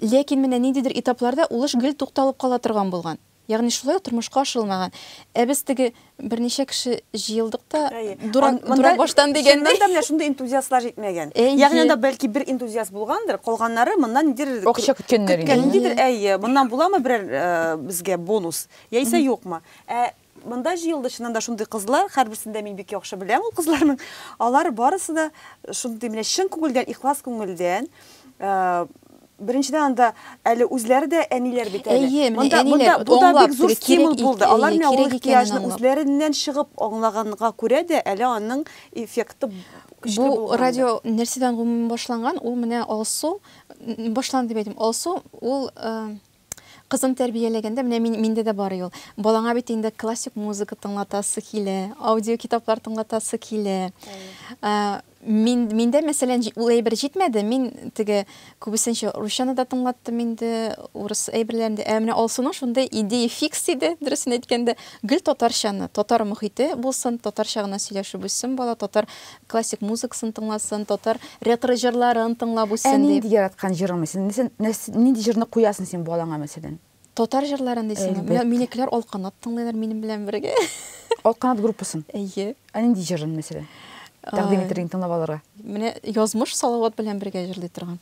Ләкин менә ниндидер этапларда ул эш гел тукталып кала торган булган. Ягъни шулай ук тормышка ашырылмаган. Ә без теге берничә кеше җыелдык та, дурак, дурак баштан дигәндәй. Чыннан да менә шундый энтузиастлар җитмәгән. Ягъни анда бәлки бер энтузиаст булгандыр, калганнары моннан ниндидер акча көткәннәр инде. Ниндидер, әйе, моннан буламы берәр безгә бонус, яисә юкмы. Ә монда җыелды чыннан да шундый кызлар, һәрберсен дә мин бик яхшы беләм ул кызларның. Алар барысы да шундый менә чын күңелдән, ихлас күңелдән Беренчедән анда әле үзләре дә әниләр бит әле. Әйе, менә әниләр бу да бик зур стимул булды. Алар менә ул ихтыяҗны үзләреннән чыгып аңлаганга күрә дә әле аның эффекты көчле булган. Бу радио нәрсәдән гомумән башланган? Ул менә Алсу башланды дип әйтим. Алсу ул Кызым тәрбияләгәндә, менә мин, миндә дә бар ул. Балаңа бит инде классик музыка тыңлатасы килә, аудиокитаплар тыңлатасы килә. Ә, мин, миндә, мәсәлән, ул әйбер җитмәде. Мин теге күбесенчә русчаны да тыңлаттым инде, урыс әйберләрен дә. Ә менә Алсуның шундый идея фикс иде, дөресен әйткәндә, гел татарчаны, татар мохите булсын, татарча гына сөйләшеп үссен бала, татар Классик музыкасын тыңласын, татар рекры җырларын тыңлап үссен дип. Ә нинди яраткан җырың, мәсәлән, нинди җырны куясың син балаңа, мәсәлән? Татар җырларын дисеңме? Менә минекеләр Алканат тыңлыйлар минем белән бергә. Алканат группасын? Әйе. Ә нинди җырын, мәсәлән? Тәкъдим итәргә, тыңлап алырга. Менә Язмыш Салават белән бергә җырлый торган.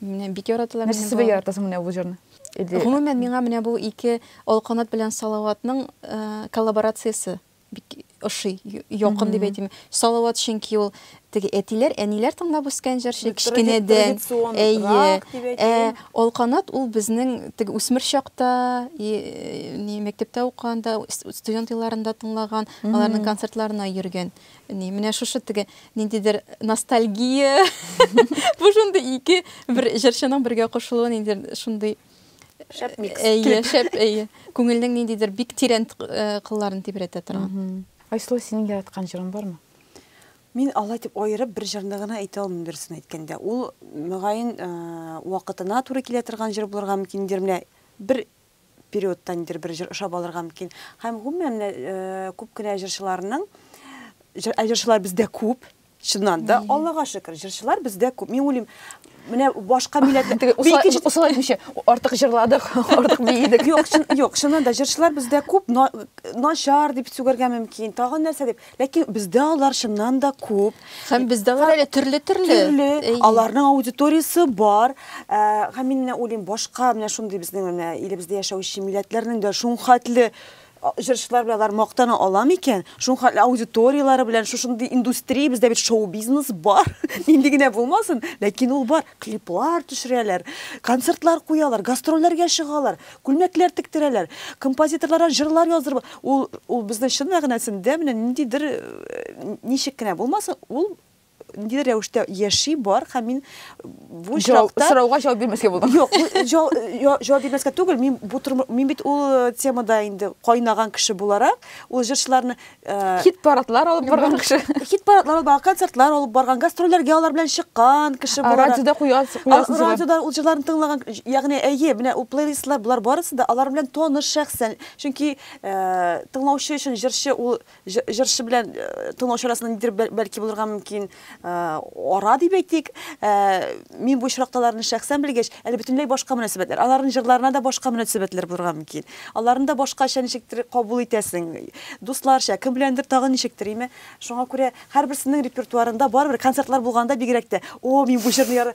Менә бик яраталар минем балалар. Нәрсәсе белән яратасың менә бу җырны? Гомумән, миңа менә бу ике Алканат белән Салаватның коллаборациясе бик ошый, якын дип әйтим. Салават чөнки ул теге әтиләр, әниләр тыңлап үскән җырчы кечкенәдән. Әйе. Ә Алканат ул безнең теге үсмер чакта, ни мәктәптә укыганда, студент елларында тыңлаган, аларның концертларына йөргән. Ни менә шушы теге ниндидер ностальгия. Бу шундый ике бер җырчының бергә кушылуы ниндидер шундый Шәп микс. Әйе, шәп, әйе. Күңелнең ниндидер бик тирән э, кылларын тибрәтә торган. Айсылу, синең яраткан җырың бармы? Мин алай дип аерып бер җырны гына әйтә алмыйм дөресен әйткәндә. Ул мөгаен э, вакытына туры килә торган җыр булырга мөмкин, нидер менә бер периодта нидер бер җыр ошап алырга мөмкин. Һәм гомумән менә э, күп кенә җырчыларның җыр, ә җырчылар бездә күп, Чыннан да, Аллага шөкер, җырчылар бездә күп. Мин уйлыйм, менә башка милләт усал әйтмичә, артык җырладык, артык биедек. Юк, юк, чыннан да җырчылар бездә күп, начар дип сүгәргә мөмкин, тагын нәрсә дип. Ләкин бездә алар чыннан да күп. Һәм бездә алар әле төрле-төрле. Төрле. Аларның аудиториясе бар. Һәм мин менә уйлыйм, башка менә шундый безнең менә илебездә яшәүче милләтләрнең дә шул хәтле Җырчылар белән алар мактана ала микән? Шуның хәтле аудиторияләре белән шушындый индустрия, бездә бит шоу-бизнес бар. Нинди генә булмасын, ләкин ул бар. Клиплар төшерәләр, концертлар куялар, гастрольләргә чыгалар, күлмәкләр тектерәләр, композиторларга җырлар яздырып, ул, ул безнең чын мәгънәсендә менә ниндидер, ничек кенә булмасын, ул ниндидер рәвештә яши бар һәм мин бу очракта сорауга җавап бирмәскә булдым. Юк, җавап бирмәскә түгел, мин бу мин бит ул э, темада инде кайнаган кеше буларак, ул җырчыларны э, хит парадлар алып барган кеше. Хит парадлар алып барган, концертлар алып барган, гастрольләргә алар белән чыккан кеше буларак. Радиода куясыз. Радиода ул җырларны тыңлаган, ягъни әйе, менә ул плейлистлар булар барысы да алар белән таныш шәхсән. Чөнки э, тыңлаучы өчен җырчы ул Җырчы белән тыңлаучы арасында нидер бәлки булырга мөмкин ара дип әйтик. Мин бу очракталарны шәхсән белгәч, әле бөтенләй башка мөнәсәбәтләр. Аларның җырларына да башка мөнәсәбәтләр булырга мөмкин. Аларны да башкача ничектер кабул итәсең. Дусларча, кем беләндер тагын ничектер, име? Шуңа күрә һәрберсенең репертуарында барыбер концертлар булганда бигрәк тә, о, мин бу җырны яра...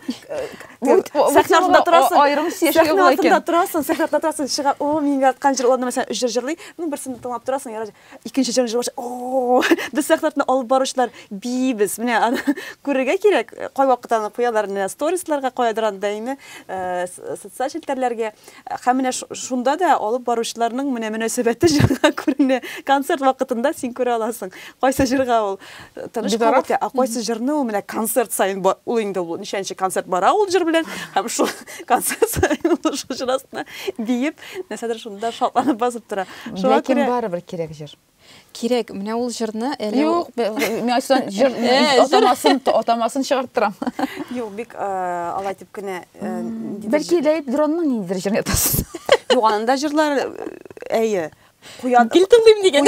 Сәхнә артында торасың. Аерым сәхнә артында торасың, сәхнә артында торасың, чыга, о, мин яраткан җыр, ул аны мәсәлән өч җыр җырлый, ну берсен тыңлап торасың, яра. Икенче җан җырлаучы, о, без сәхнәтне алып баручылар бибез. Менә аны күрергә кирәк. Кайвакыт аны куялар менә сторисларга, каядыр аны даими э, социаль челтәрләргә. Һәм менә шунда да алып баручыларның менә мөнәсәбәте җырга күренә. Концерт вакытында син күрә аласың, кайсы җырга ул э, тыныч кабул итә, ә кайсы җырны ул менә концерт саен ул инде ул ничәнче концерт бара ул җыр белән һәм шул концерт саен ул шул җыр астына биеп, нәрсәдер шунда шатланып басып тора. Ләкин барыбер кирәк җыр. Кирәк, менә ул җырны әле Юк, мин ачыдан җыр атамасын, атамасын чыгарып торам. Юк, бик алай дип кенә Бәлки Ләеп Дронның ниндидер җырын ятасыз. Юк, анда җырлар әйе. Куяд... Гел тыңлыйм дигән.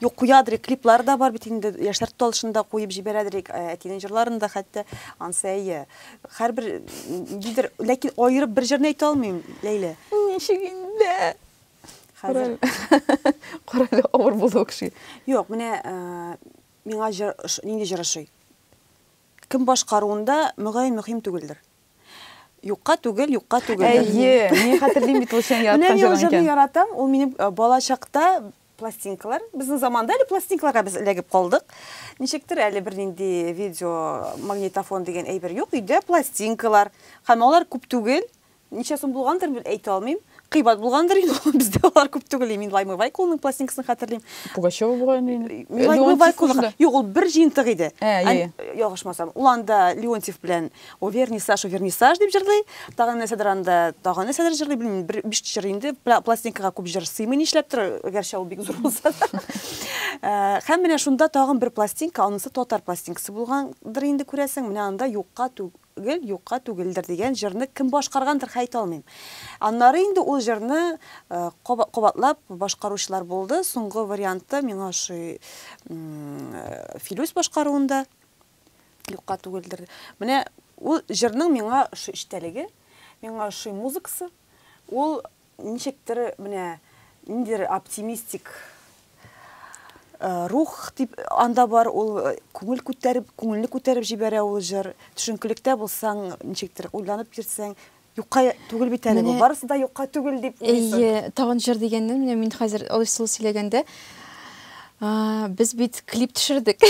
Юк, куядыр, клиплар да бар бит инде, яшьләр тукталышында куеп җибәрәдер, әтинең җырларын да хәтта, ансы әйе. Һәрбер, дидер, ләкин аерып бер җырны әйтә алмыйм, Ләйлә. Ничек инде? Хәзер Корале авыр булды ул кешегә. Юк, менә миңа җыр нинди җыр ошый? Кем башкаруында мөгаен мөһим түгелдер. Юкка түгел, юкка түгел. Әйе, мин хәтерлим бит ул син яраткан җырын икән. Менә яратам, ул минем бала чакта пластинкалар. Безнең заманда әле пластинкаларга без эләгеп калдык. Ничектер әле бер нинди видео магнитофон дигән әйбер юк, өйдә пластинкалар. Һәм алар күп түгел, Ничә сум булгандыр, әйтә алмыйм. Кыйбат булгандыр инде ул, бездә алар күп түгел. Мин Лаймы Вайкулның пластинкасын хәтерлим. Пугачева булган инде. Э, Лаймы Вайкулның. Юк, ул бер җыентык иде. Ә, э, э, э. Ялгышмасам, ул анда Леонтьев белән О вернисаж, о вернисаж дип җырлый. Тагын нәрсәдер анда, тагын нәрсәдер җырлый, белмим, бер биш җыр инде. Пластинкага күп җыр сыймый нишләптер, гәрчә ул бик зур булса да. Һәм менә шунда тагын бер пластинка, анысы татар пластинкасы булгандыр инде күрәсең. Менә анда юкка тү, Гел юкка түгелдер дигән җырны кем башкаргандыр, хәйтә алмыйм. Аннары инде ул җырны кабатлап башкаручылар булды. Соңгы варианты миңа ошый Филүс башкаруында юкка түгелдер. Менә ул җырның миңа ошый эчтәлеге, миңа ошый музыкасы. Ул Ничектер, менә ниндидер оптимистик рух дип анда бар, ул күңел күтәреп, күңелне күтәреп җибәрә ул җыр. Төшенкелектә булсаң, ничектер уйланып йөрсәң, юкка түгел бит әле бу. Барысы да юкка түгел дип уйлыйсың. Әйе, тагын җыр дигәннән, менә мин хәзер алай сулы сөйләгәндә, Без бит клип төшердек.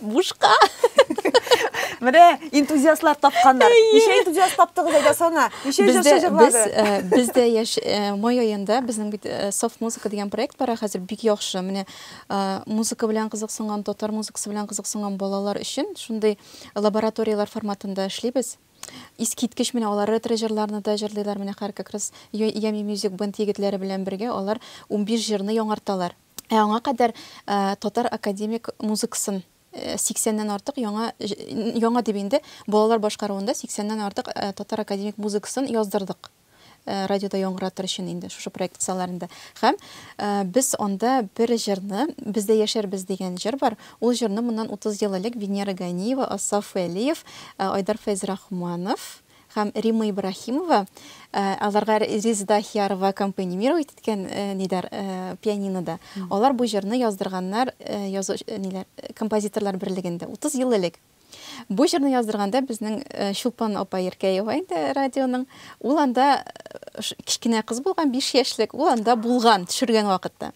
Бушка. Менә энтузиастлар тапканнар. Ничә энтузиаст таптыгыз әйдә сана? Ничә җырчы җырлады? Без дә яш май аенда безнең бит Soft Music дигән проект бар, хәзер бик яхшы. Менә музыка белән кызыксынган, татар музыкасы белән кызыксынган балалар өчен шундый лабораторияләр форматында эшлибез. Искиткеч менә алар ретро җырларны да җырлыйлар. Менә хәр как раз Yummy Music Band егетләре белән бергә алар 15 җырны яңарталар. Ә аңа кадәр татар академик музыкасын 80 ннән артык яңа, яңа дип инде, балалар башкаруында 80 ннән артык татар академик музыкасын яздырдык. Радиода яңгыратыр өчен инде шушы проект кысаларында. Һәм без анда бер җырны, Бездә яшәрбез дигән җыр бар. Ул җырны моннан 30 ел элек Венера Ганиева, Асаф Вәлиев, Айдар Фәйзрахманов, һәм Римма Ибраһимова, аларга Резеда Ахиярова аккомпанимировать иткән нидәр пианинода. Алар бу җырны яздырганнар язу ниләр композиторлар берлегендә 30 ел элек. Бу җырны яздырганда безнең Чулпан апа Еркәева инде радионың, ул анда кечкенә кыз булган, 5 яшьлек, ул анда булган, төшергән вакытта.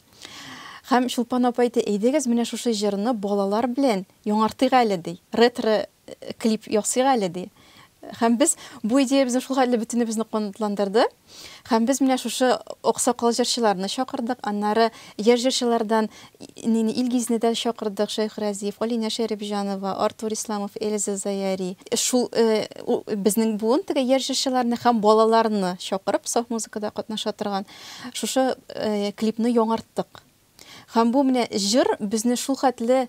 Һәм Чулпан апа әйтте, әйдәгез менә шушы җырны балалар белән яңартыйк әле ди. Ретро клип ясыйк әле, ди. Һәм без бу идеябезне шул хәтле бөтенебезне канатландырды. Һәм без менә шушы аксакал җырчыларны чакырдык, аннары яшь җырчылардан Нини Илгизне дә чакырдык, Шәйх Разиев, Алинә Шәрипҗанова, Артур Исламов, Эльза Заяри. Шул безнең буын теге яшь җырчыларны һәм балаларны чакырып, саф музыкада катнаша торган шушы клипны яңарттык. Һәм бу менә җыр безне шул хәтле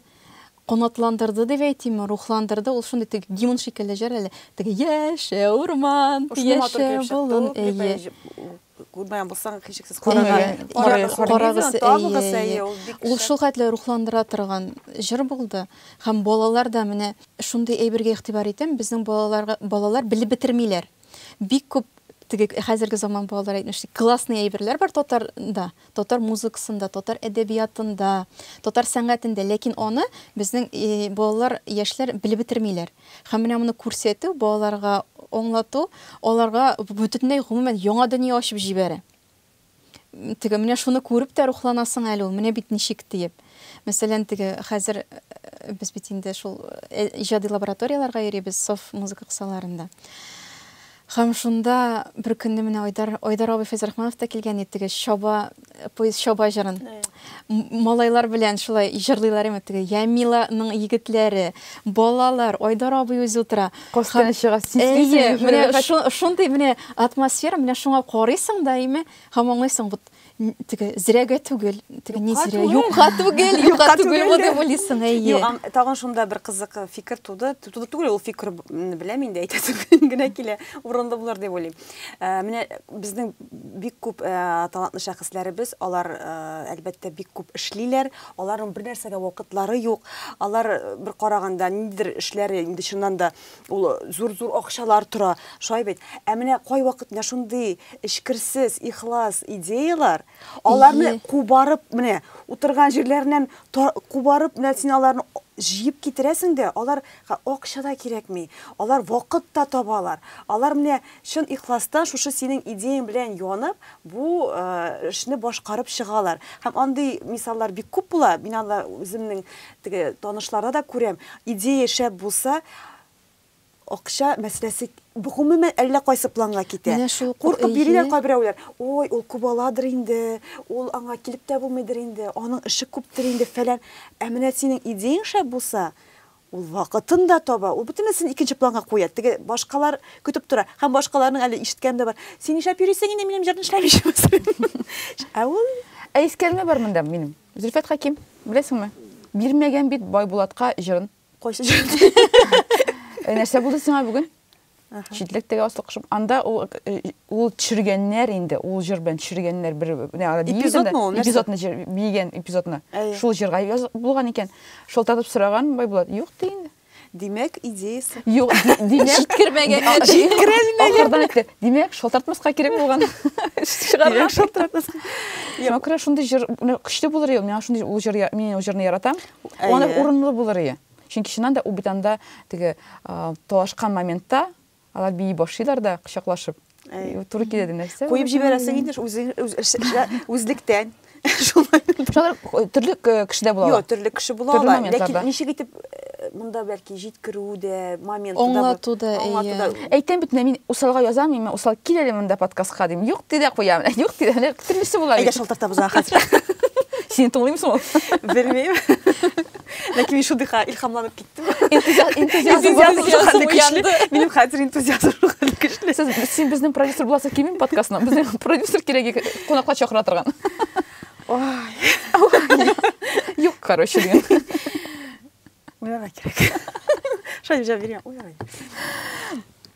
канатландырды дип әйтимме, рухландырды, ул шундый теге гимн шикелле җыр әле. Теге яшә урман, яшә болын, әйе. Күрмәгән булсаң, һичшиксез карагыз, табыгыз, әйе. Ул шул хәтле рухландыра торган җыр булды. Һәм балалар да менә шундый әйбергә игътибар итәм, безнең балалар белеп бетермиләр. бик күп теге хәзерге заман балалар әйтмешли классный әйберләр бар татарда, татар музыкасында, татар әдәбиятында, татар сәнгатендә, ләкин аны безнең э, балалар, яшьләр белеп бетермиләр. Һәм менә моны күрсәтү, балаларга аңлату, аларга бөтенләй гомумән яңа дөнья ачып җибәрә. Теге, менә шуны күреп тә рухланасың әле ул, менә бит ничек диеп. Мәсәлән, теге хәзер без бит инде шул иҗади лабораторияләргә йөрибез, сов музыка кысаларында. Хәм шунда бер көнне менә Айдар, Айдар абый Фәйзрахманов та килгән иде, теге Чаба, поезд Чаба җырын. Малайлар белән шулай җырлыйлар имет теге Ямиланың егетләре, балалар, Айдар абый үзе утыра. Касканы чыга, сиснисең. Менә шундый менә атмосфера, менә шуңа карыйсың да име, һәм аңлыйсың, вот теге зрәгә түгел, теге ни зрә, юкка түгел, юкка түгел бу дип уйлыйсың, әйе. Тагын шунда бер кызык фикер туды, туды түгел, ул фикер беләм инде, әйтәсем генә килә, урынлы булыр дип уйлыйм. Ә, менә безнең бик күп ә, талантлы шәхесләребез, алар, ә, әлбәттә, бик күп эшлиләр, аларның бер нәрсәгә вакытлары юк. Алар э, бер караганда ниндидер эшләре инде чыннан да ул зур-зур акчалар тора, шулай бит. Ә менә кайвакыт менә шундый эчкерсез, ихлас идеялар, аларны Ие. кубарып, менә утырган җирләреннән та- кубарып, менә син аларны җыеп китерәсең дә, алар Га акча да кирәкми, алар вакыт та табалар. Алар менә чын ихластан шушы синең идеяң белән янып, бу эшне башкарып чыгалар. Һәм андый мисаллар бик күп була, мин анда үземнең теге танышларда да күрәм, идея шәп булса, акча мәсьәләсе гомумән әллә кайсы планга китә. Менә шул кур Куркып йөриләр эйе. кайберәүләр, ой, ул күп аладыр инде, ул аңа килеп тә булмыйдыр инде, аның эше күптер инде, фәлән. Ә менә синең идеяң шәп булса, Ул вакытын да таба, ул бөтенесен икенче планга куя. Теге башкалар көтеп тора. Һәм башкаларның әле ишеткәне дә бар. Син нишләп йөрисең инде минем җырны эшләмичә? Ә ул Ә искәлме бар монда минем? Зөлфәт Хәким, беләсеңме? Бирмәгән бит Байбулатка җырын. Кайсы җырын? Нәрсә булды сиңа бүген? Читлек теге аслы кошым. Анда ул ул төшергәннәр инде, ул җыр белән төшергәннәр бер эпизодны ул, эпизодны җыр бигән эпизодны. Шул җырга булган икән. Шылтатып сораган Байбулат, юк ди инде. Димәк, идеясы. Юк, димәк, җиткермәгән. Җиткерелмәгән. Ахырдан әйтте. Димәк, шалтыратмаска кирәк булган. Чыгарга шалтыратмаска. Яңа күрә шундый җыр, көчле булыр иде. Миңа шундый ул җыр, мин ул җырны яратам. Ул урынлы булыр иде. Чөнки чыннан да Убитанда теге талашкан моментта алар бии башлыйлар да кочаклашып. Туры килә дә нәрсә? Куеп җибәрәсең инде үзлектән. Шулай. Төрле кеше дә була. Юк, төрле кеше була ала. Ләкин ничек итеп монда бәлки җиткерү дә, моменты да. Аңлату да, әйе. Әйтәм бит, мин усалга язам, мин усал кил әле монда подкастка дим. Юк ди дә куям. Юк ди дә, төрлесе була. Әйдә шалтыртабыз хәзер. Син тыңлыймсың? Белмим. ләкин мин шундыйга илһамланып киттем энтузиазм хәлле көчле минем хәзер энтузиазм хәлле көчле сез син безнең продюсер буласың килмим подкастына безнең продюсер кирәк кунакка чакыра торган юк короче деген уйларга кирәк шулай җавап биргән уйларга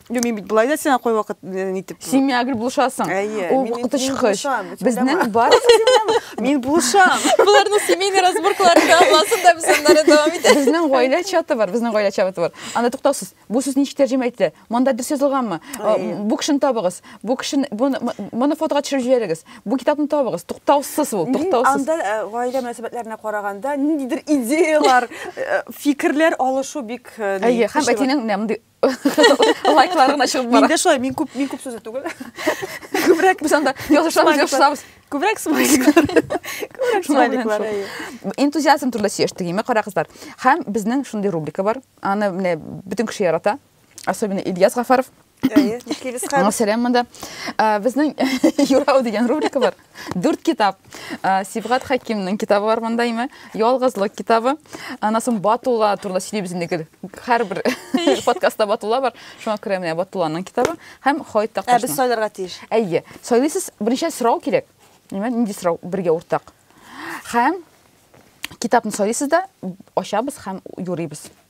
Юк, мин бит былай да сиңа кайвакыт э, нитеп. Син миңа гел булышасың. Әйе, Ул мин- вакыты мин чыккыч. булышам, өч Безнең уйлама. бар. Мин булышам. Буларның семейный разборкалары да булсын да без аннары дәвам итәбез. Безнең гаилә чаты бар, безнең гаилә чаты бар. Анда туктаусыз. Бу сүз ничек тәрҗемә ителә? Монда дөрес язылганмы? А, Әйе. Бу кешене табыгыз. Бу кешене моны- моны фотога төшереп җибәрегез. Бу китапны табыгыз. Туктаусыз ул, Мин туктаусыз. анда э, гаилә мөнәсәбәтләренә караганда ниндидер идеялар, э, фикерләр алышу бик э, Әйе, һәм көчле. әтинең менә мондый лайклар гына чыгып бара миндә шулай мин күп мин күп сүзле түгел күбрәк без анда язышабыз язышабыз күбрәк смайликлар күбрәк смайликлар энтузиазм турында сөйләштек име кара кызлар һәм безнең шундый рубрика бар аны менә бөтен кеше ярата особенно ильяс гафаров Сәләм монда. Безнең Юрау дигән рубрика бар. Дүрт китап. Сибгат Хәкимнең китабы бар монда име? Ялгызлык китабы. Аннан соң Батулла турында сөйлибез инде гел. Һәрбер подкастта Батулла бар. Шуңа күрә менә Батулланың китабы һәм Хаит Такташның. Ә без сайларга тиеш. Әйе. Сайлыйсыз, беренче сорау кирәк. Нимә, нинди сорау бергә уртак? Һәм китапны сайлыйсыз да, ачабыз һәм юрыйбыз.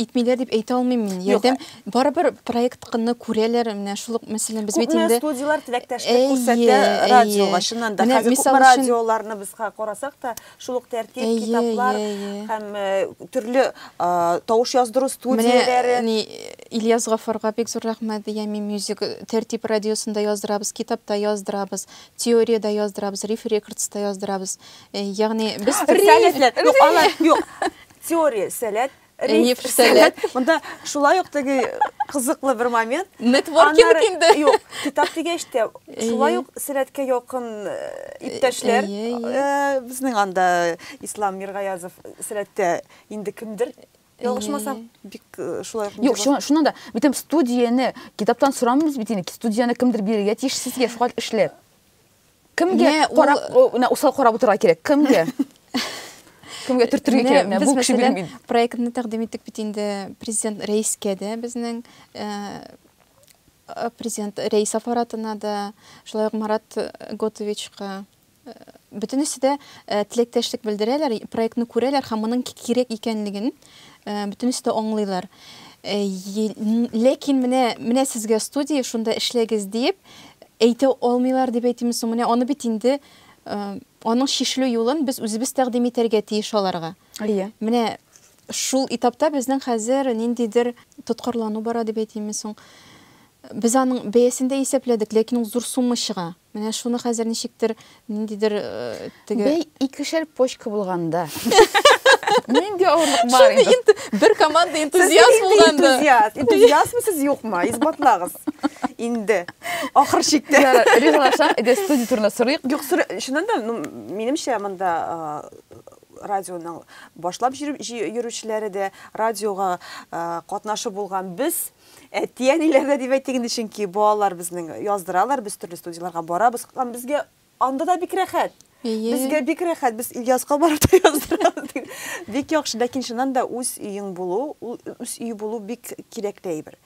итмиләр дип әйтә алмыйм мин. Ярдәм э, барыбер проектны күрәләр. Менә шул ук мәсәлән без бит инде студияләр теләктәшлек күрсәтә радиога, чыннан да. Хәзер күпме радиоларны без карасак та, шул ук тәртип, китаплар һәм э, төрле тавыш яздыру студияләре. Менә Ильяс Гафарга бик зур рәхмәт дигән мин мюзик тәртип радиосында яздырабыз, китапта яздырабыз, теориядә яздырабыз, риф рекордста яздырабыз. Э, ягъни без референслар, юк, алар юк. Теория сәләт, риф сәләт. Монда шулай ук теге кызыклы бер момент. Нетворкинг инде. Юк, китап дигәч тә, шулай ук сәләткә якын э, иптәшләр. Э, безнең анда Ислам Миргаязов сәләттә инде кемдер Ялгышмасам, бик э, шулай ук. Юк, шуна да, бит студияне китаптан сорамыйбыз бит инде, студияне кемдер бирергә тиеш сезгә шуңа эшләп. Кемгә карап, менә усал карап утырырга кирәк. Кемгә? Кемгә төртергә кирәк? Менә бу кеше белән бит. Проектны тәкъдим иттек бит инде президент рәискә дә безнең президент рәис аппаратына да, шулай ук Марат Готовичка бөтенесе дә теләктәшлек белдерәләр, проектны күрәләр һәм моның кирәк икәнлеген Э, бөтенесе дә аңлыйлар э, ләкин менә менә сезгә студия шунда эшләгез диеп әйтә алмыйлар дип әйтимме соң менә аны бит инде э, аның чишелү юлын без үзебез тәкъдим итәргә тиеш аларга иә менә шул этапта безнең хәзер ниндидер тоткарлану бара дип әйтимме соң без аның бәясен дә исәпләдек ләкин ул зур сумма чыга Менә шуны хәзер ничектер, ниндидер теге... Бәй, икешәр почка булганда. Нинди авырлык бар инде? Шуны инде бер команда энтузиаст булганда. Энтузиаст, энтузиастмы сез юкмы? Исбатлагыз. Инде. Ахыр чиктә. Ризалашам, иде студия турында сорыйк. Юк, шуннан да, ну, минемчә монда радионың башлап йөрүчеләре дә, радиога катнашы булган без Әти-әниләрдә дип әйтик инде, чөнки балалар безнең яздыралар, без төрле студияләргә барабыз. Һәм безгә анда да бик рәхәт. Безгә бик рәхәт, без Ильяска барып та яздырабыз. Бик яхшы, ләкин чыннан да үз өең булу, үз өй булу бик кирәкле әйбер.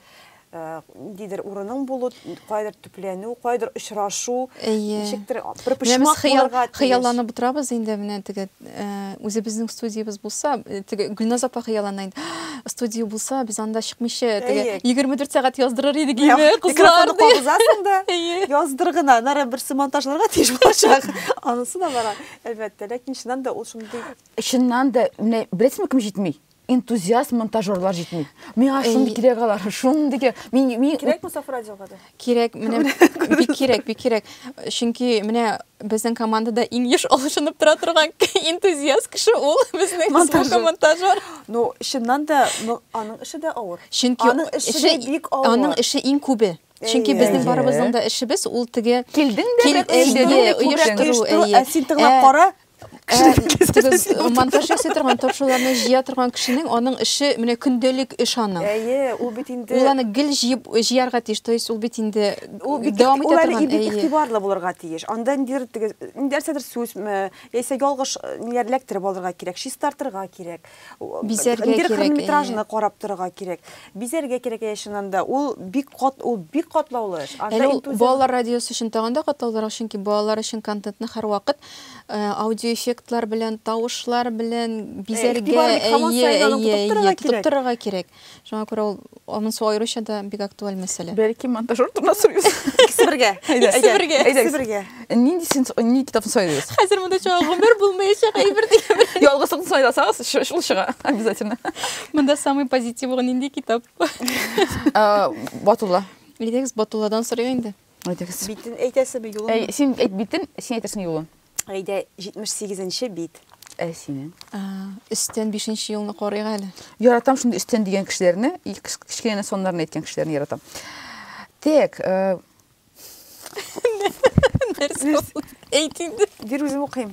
Ниндидер урының булу, кайдыр Өйләнү, кайдыр очрашу, Әйе. ничектер а, бер Менә без почмак хыял, булырга тиеш. хыялланып утырабыз инде, менә теге э, үзебезнең студиябез булса, э, теге Гөлназ апа хыяллана инде. «Ах, Студия булса, без анда чыкмыйча, теге Әйе. 24 сәгать яздырыр идек Менә име, кызлар, Микрофонны ди. кабызасың да, Әйе. яздыр гына, аннары берсе монтажларга тиеш булачак. Анысы да бар, әлбәттә. Ләкин чыннан да ул шундый Чыннан да, менә беләсезме кем җитми? энтузиаст монтажерлар җитми. Миңа шундый кирәк алар, шундый кирәк. Мин мин кирәк бу саф радиога да. Кирәк, менә бик кирәк, бик кирәк. Чөнки менә безнең командада иң еш алышынып тора торган энтузиаст кеше ул безнең монтажер. монтажер. Ну, чыннан да аның эше дә авыр. Чөнки аның эше бик авыр. Аның эше иң күбе. Чөнки безнең барыбызның да эшебез ул теге килдең дә килдең дә оештыру. Ә син тыңлап кара, монтаж ясый торган ток шоуларны җыя торган кешенең аның эше менә көндәлек эш аның әйе ул бит инде ул аны гел җыеп җыярга тиеш то есть ул бит инде дәвам итә торган бик игътибарлы булырга тиеш анда ниндидер теге нәрсәдер сүзме яисә ялгыш ниләр эләктереп алырга кирәк чистартырга кирәк Бизәргә кирәк. Хронометражны карап торырга кирәк. Бизәргә кирәк әйе чыннан да. Ул бик кат, ул бик катлаулы эш. Анда интузиазм. Балалар радиосы өчен тагын да катлаулырак, чөнки балалар өчен контентны һәрвакыт аудиоэффектлар белән, тавышлар белән бизәргә, әйе, әйе, әйе, тотып торырга кирәк. Шуңа күрә ул аның су аеруча да бик актуаль мәсьәлә. Бәлки монтажер турында сорыйбыз. Икесе бергә. Икесе бергә. Икесе бергә. Нинди син ни китапны сайлыйбыз? Хәзер монда чыга гомер булмаячак әйбер дигән. Ялгызлыкны сайласагыз, шул чыга обязательно. Монда самый позитивы нинди китап? Батулла. Идегез Батулладан сорыйк инде. Әйтегез. Битен әйтәсеме, юлын? Әй, син әйт битен, син әйтерсең юлын. Әйдә, 78-нче бит. Ә синең? Өстән 5-нче юлны карыйк әле. Яратам шундый өстән дигән кешеләрне, кечкенә соннарны әйткән кешеләрне яратам. Тек, э, Нәрсә? Әйт инде. Бир үзем укыйм.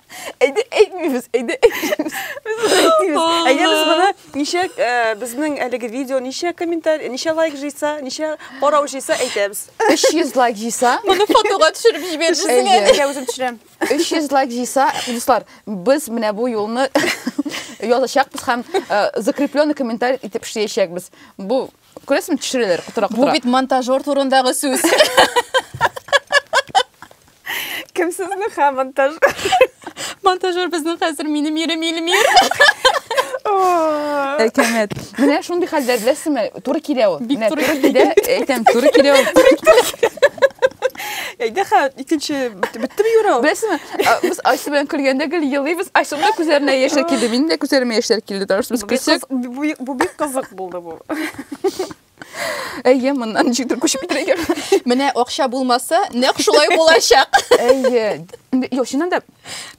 Әйдә әйтмибез, әйдә әйтмибез. Без әйтмибез. Әйдә без моны ничә э, безнең әлеге видео ничә комментарий, ничә лайк җыйса, ничә карау җыйса әйтәбез. 300 лайк җыйса, Моны фотога төшереп җибәрерсез. Әйдә. Әйдә үзем төшерәм. 300 лайк җыйса, дуслар, без менә бу юлны язачакбыз һәм э, закрепленный комментарий итеп эшләячәкбез. Бу Күрәсең, төшерәләр котыра Бу бит монтажер турындагы сүз. Кем сезнең ха монтаж? Монтажер безнең хәзер минем ирем Илмир. Әкәмәт. Менә шундый хәлләр беләсеңме? Туры килә ул. Бик туры килә. Әйтәм, туры килә ул. Әйдә хә, икенче беттеме юра ул? Беләсеңме? Без Айсу белән көлгәндә гел елыйбыз. Айсуның да күзләренә яшьләр килде. Минем дә күзләремә яшьләр килде. Таш без көлсәк, бу бик кызык булды бу. Әйе, моннан ничектер күчеп китәргә кирәк. Менә акча булмаса, нәкъ шулай булачак. Әйе. Юк, чыннан да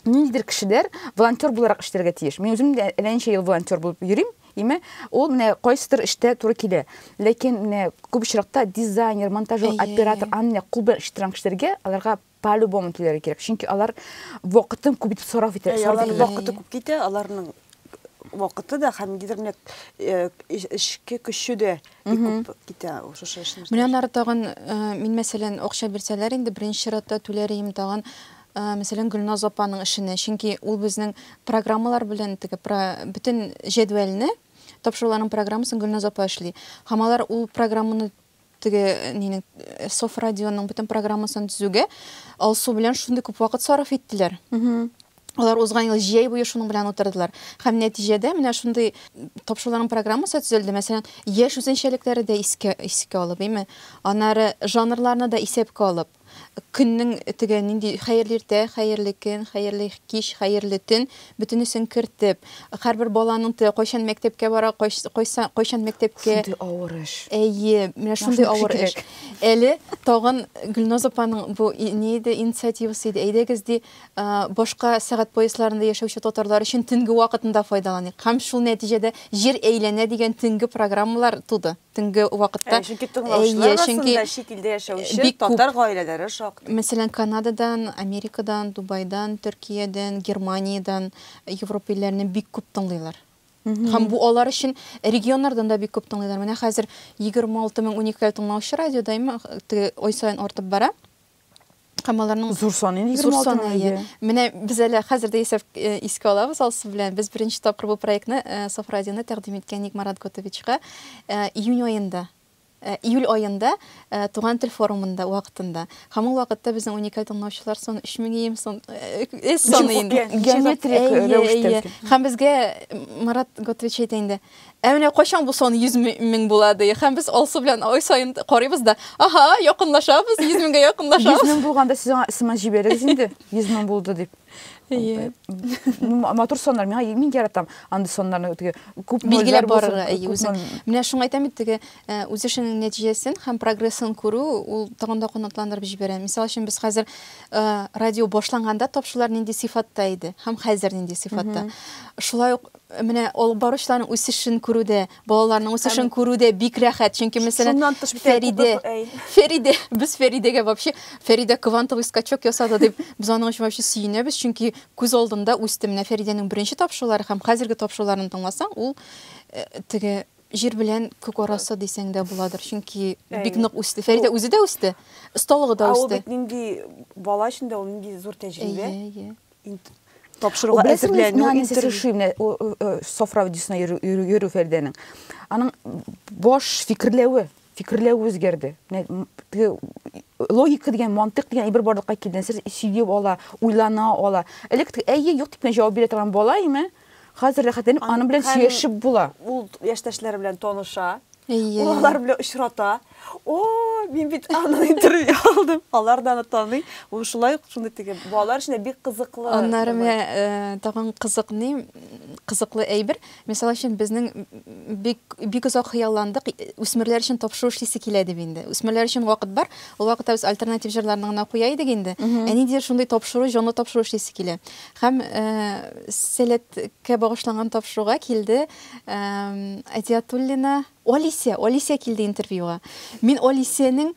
ниндидер кешеләр волонтер буларак эшләргә тиеш. Мин үзем дә әллә ничә ел волонтер булып йөрим. Име, ул менә кайсыдыр эштә туры килә. Ләкин менә күп очракта дизайнер, монтажер, оператор, аны кул белән эшләп торган кешеләргә аларга По любому килергә кирәк, чөнки алар вакытын күп итеп сарыф итә. Әй, алар вакыты күп китә, аларның вакыты да һәм нидер менә э, эшке көче дә күп китә шушы эшне. Менә аннары тагын э, мин мәсәлән акча бирсәләр инде беренче чиратта түләр идем тагын э, мәсәлән Гөлназ апаның эшенә, чөнки ул безнең программалар белән теге бөтен җәдвәлне тапшыруларның программасын Гөлназ апа эшли. Һәм алар ул программаны Теге нинең Софрадионың бөтен программасын төзүгә Алсу белән шундый күп вакыт сарыф иттеләр. Алар узган ел җәй буе шуның белән утырдылар. Һәм нәтиҗәдә менә шундый тапшыруларның программасы төзелде. Мәсәлән, яшь үзенчәлекләре дә искә искә алып, әйме? Аннары жанрларны да исәпкә алып. Көннең теге нинди хәерле иртә, хәерле көн, хәерле кич, хәерле төн, бөтенесен кертеп, һәрбер баланың те кайчан мәктәпкә бара, кайс кайса кайчан мәктәпкә Шундый авыр эш. Әйе, менә шундый авыр эш. Әле тагын Гөлназ апаның бу ни иде, инициативасы иде, әйдәгез ди, башка сәгать поясларында яшәүче татарлар өчен төнге вакытын да файдаланыйк. Һәм шул нәтиҗәдә Җир әйләнә дигән төнге программалар туды. төнге вакытта. Чөнки тыңлаучылар арасында чит илдә яшәүче татар гаиләләре шактый. Мәсәлән, Канададан, Америкадан, Дубайдан, Төркиядән, Германиядән, Европа илләреннән бик күп тыңлыйлар. Һәм бу алар өчен регионнардан да бик күп тыңлыйлар. Менә хәзер 26 мең уникаль тыңлаучы радиода ай саен артып бара. Һәм аларның зур саны инде 26 саны, әйе. Менә без әле хәзер дә исәп э, искә алабыз Алсу белән. Без беренче тапкыр бу проектны э, Соф радионы тәкъдим иткән идек Марат Готовичка. Э, июнь аенда Э, июль айында э, туган тел форумында вакытында һәм ул вакытта безнең уникаль тыңлаучылар сон өч мең ем сон э, эс саны инде геометрик рәвештә һәм безгә марат готович әйтә инде Ә менә кайчан бу сан 100 мең була ди. Һәм без Алсу белән ай саен карыйбыз да, аһа, якынлашабыз, 100 меңгә якынлашабыз. 100 мең булганда сез аңа смс җибәрегез инде, 100 мең булды дип. Әйе. Матур саннар, миңа мин яратам андый саннарны теге күп билгеләп барырга. Әйе, үзең. Менә шуңа әйтәм бит теге э, үз эшеңнең нәтиҗәсен һәм прогрессын күрү ул тагын да канатландырып җибәрә. Мисал өчен без хәзер э, радио башланганда тапшырулар нинди сыйфатта иде һәм хәзер нинди сыйфатта. Шулай ук Менә алып баручыларның үсешен күрү дә, балаларның үсешен күрү дә бик рәхәт. Чөнки, мәсәлән, Фәридә, Фәридә, без Фәридәгә вообще, Фәридә квантовый скачок ясады дип, без аның өчен вообще сөенәбез, чөнки күз алдында үсте. Менә Фәридәнең беренче тапшырулары һәм хәзерге тапшыруларын тыңласаң, ул э, теге җир белән күк арасы дисәң дә буладыр. Чөнки бик нык үсте. Фәридә үзе дә үсте, осталыгы да үсте. Ул бит нинди бала өчен дә ул нинди зур тәҗрибә. Әйе, әйе. тапшыруга әзерләнү интерешу менә софра видеосына йөрү фәрдәнең аның баш фикерләве фикерләве үзгәрде логика дигән мантык дигән әйбер барлыкка килде нәрсә сөеп ала уйлана ала элек әйе юк дип кенә җавап бирә торган бала име Хәзер рәхәтләнеп аның белән сөйләшеп була. Ул яшьтәшләре белән таныша. Ул алар белән очрата. О, мин бит аның интервью алдым. Алар да аны таный. Ул шулай ук шундый теге балалар өчен бик кызыклы. Аннары менә э, тагын кызыкны, кызыклы әйбер. Мисал өчен безнең бик бик озак хыялландык, үсмерләр өчен тапшыру эшлисе килә дип инде. Үсмерләр өчен вакыт бар. Ул вакытта без альтернатив җырларны гына куя идек инде. Ә ниндидер шундый тапшыру, җанлы тапшыру эшлисе килә. Һәм Сәләткә багышланган тапшыруга килде Әдиатуллина Алисия, Алисия килде интервьюга. Мин Алисиянең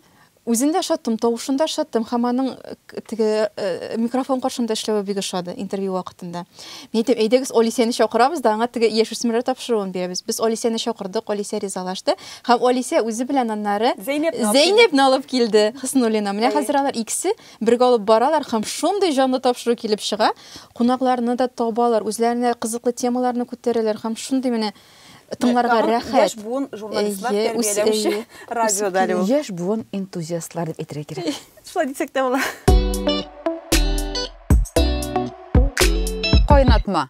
үзен дә ошаттым, тавышын да ошаттым һәм аның теге микрофон каршында эшләве бик ошады интервью вакытында. Мин әйтәм, әйдәгез Алисияне чакырабыз да, аңа теге яшүсмерләр тапшыруын бирәбез. Без Алисияне чакырдык, Алисия ризалашты һәм Алисия үзе белән аннары Зәйнәпне алып килде, Хөснуллина. Менә хәзер алар икесе Бергә алып баралар һәм шундый җанлы тапшыру килеп чыга, кунакларны да табалар, үзләренә кызыклы темаларны күтәрәләр һәм шундый менә тыңларга рәхәт. Яшь буын журналистлар тәрбияләүче радио дәли ул. Яшь буын энтузиастлар дип әйтергә кирәк. Шулай дисәк тә була. Кайнатма.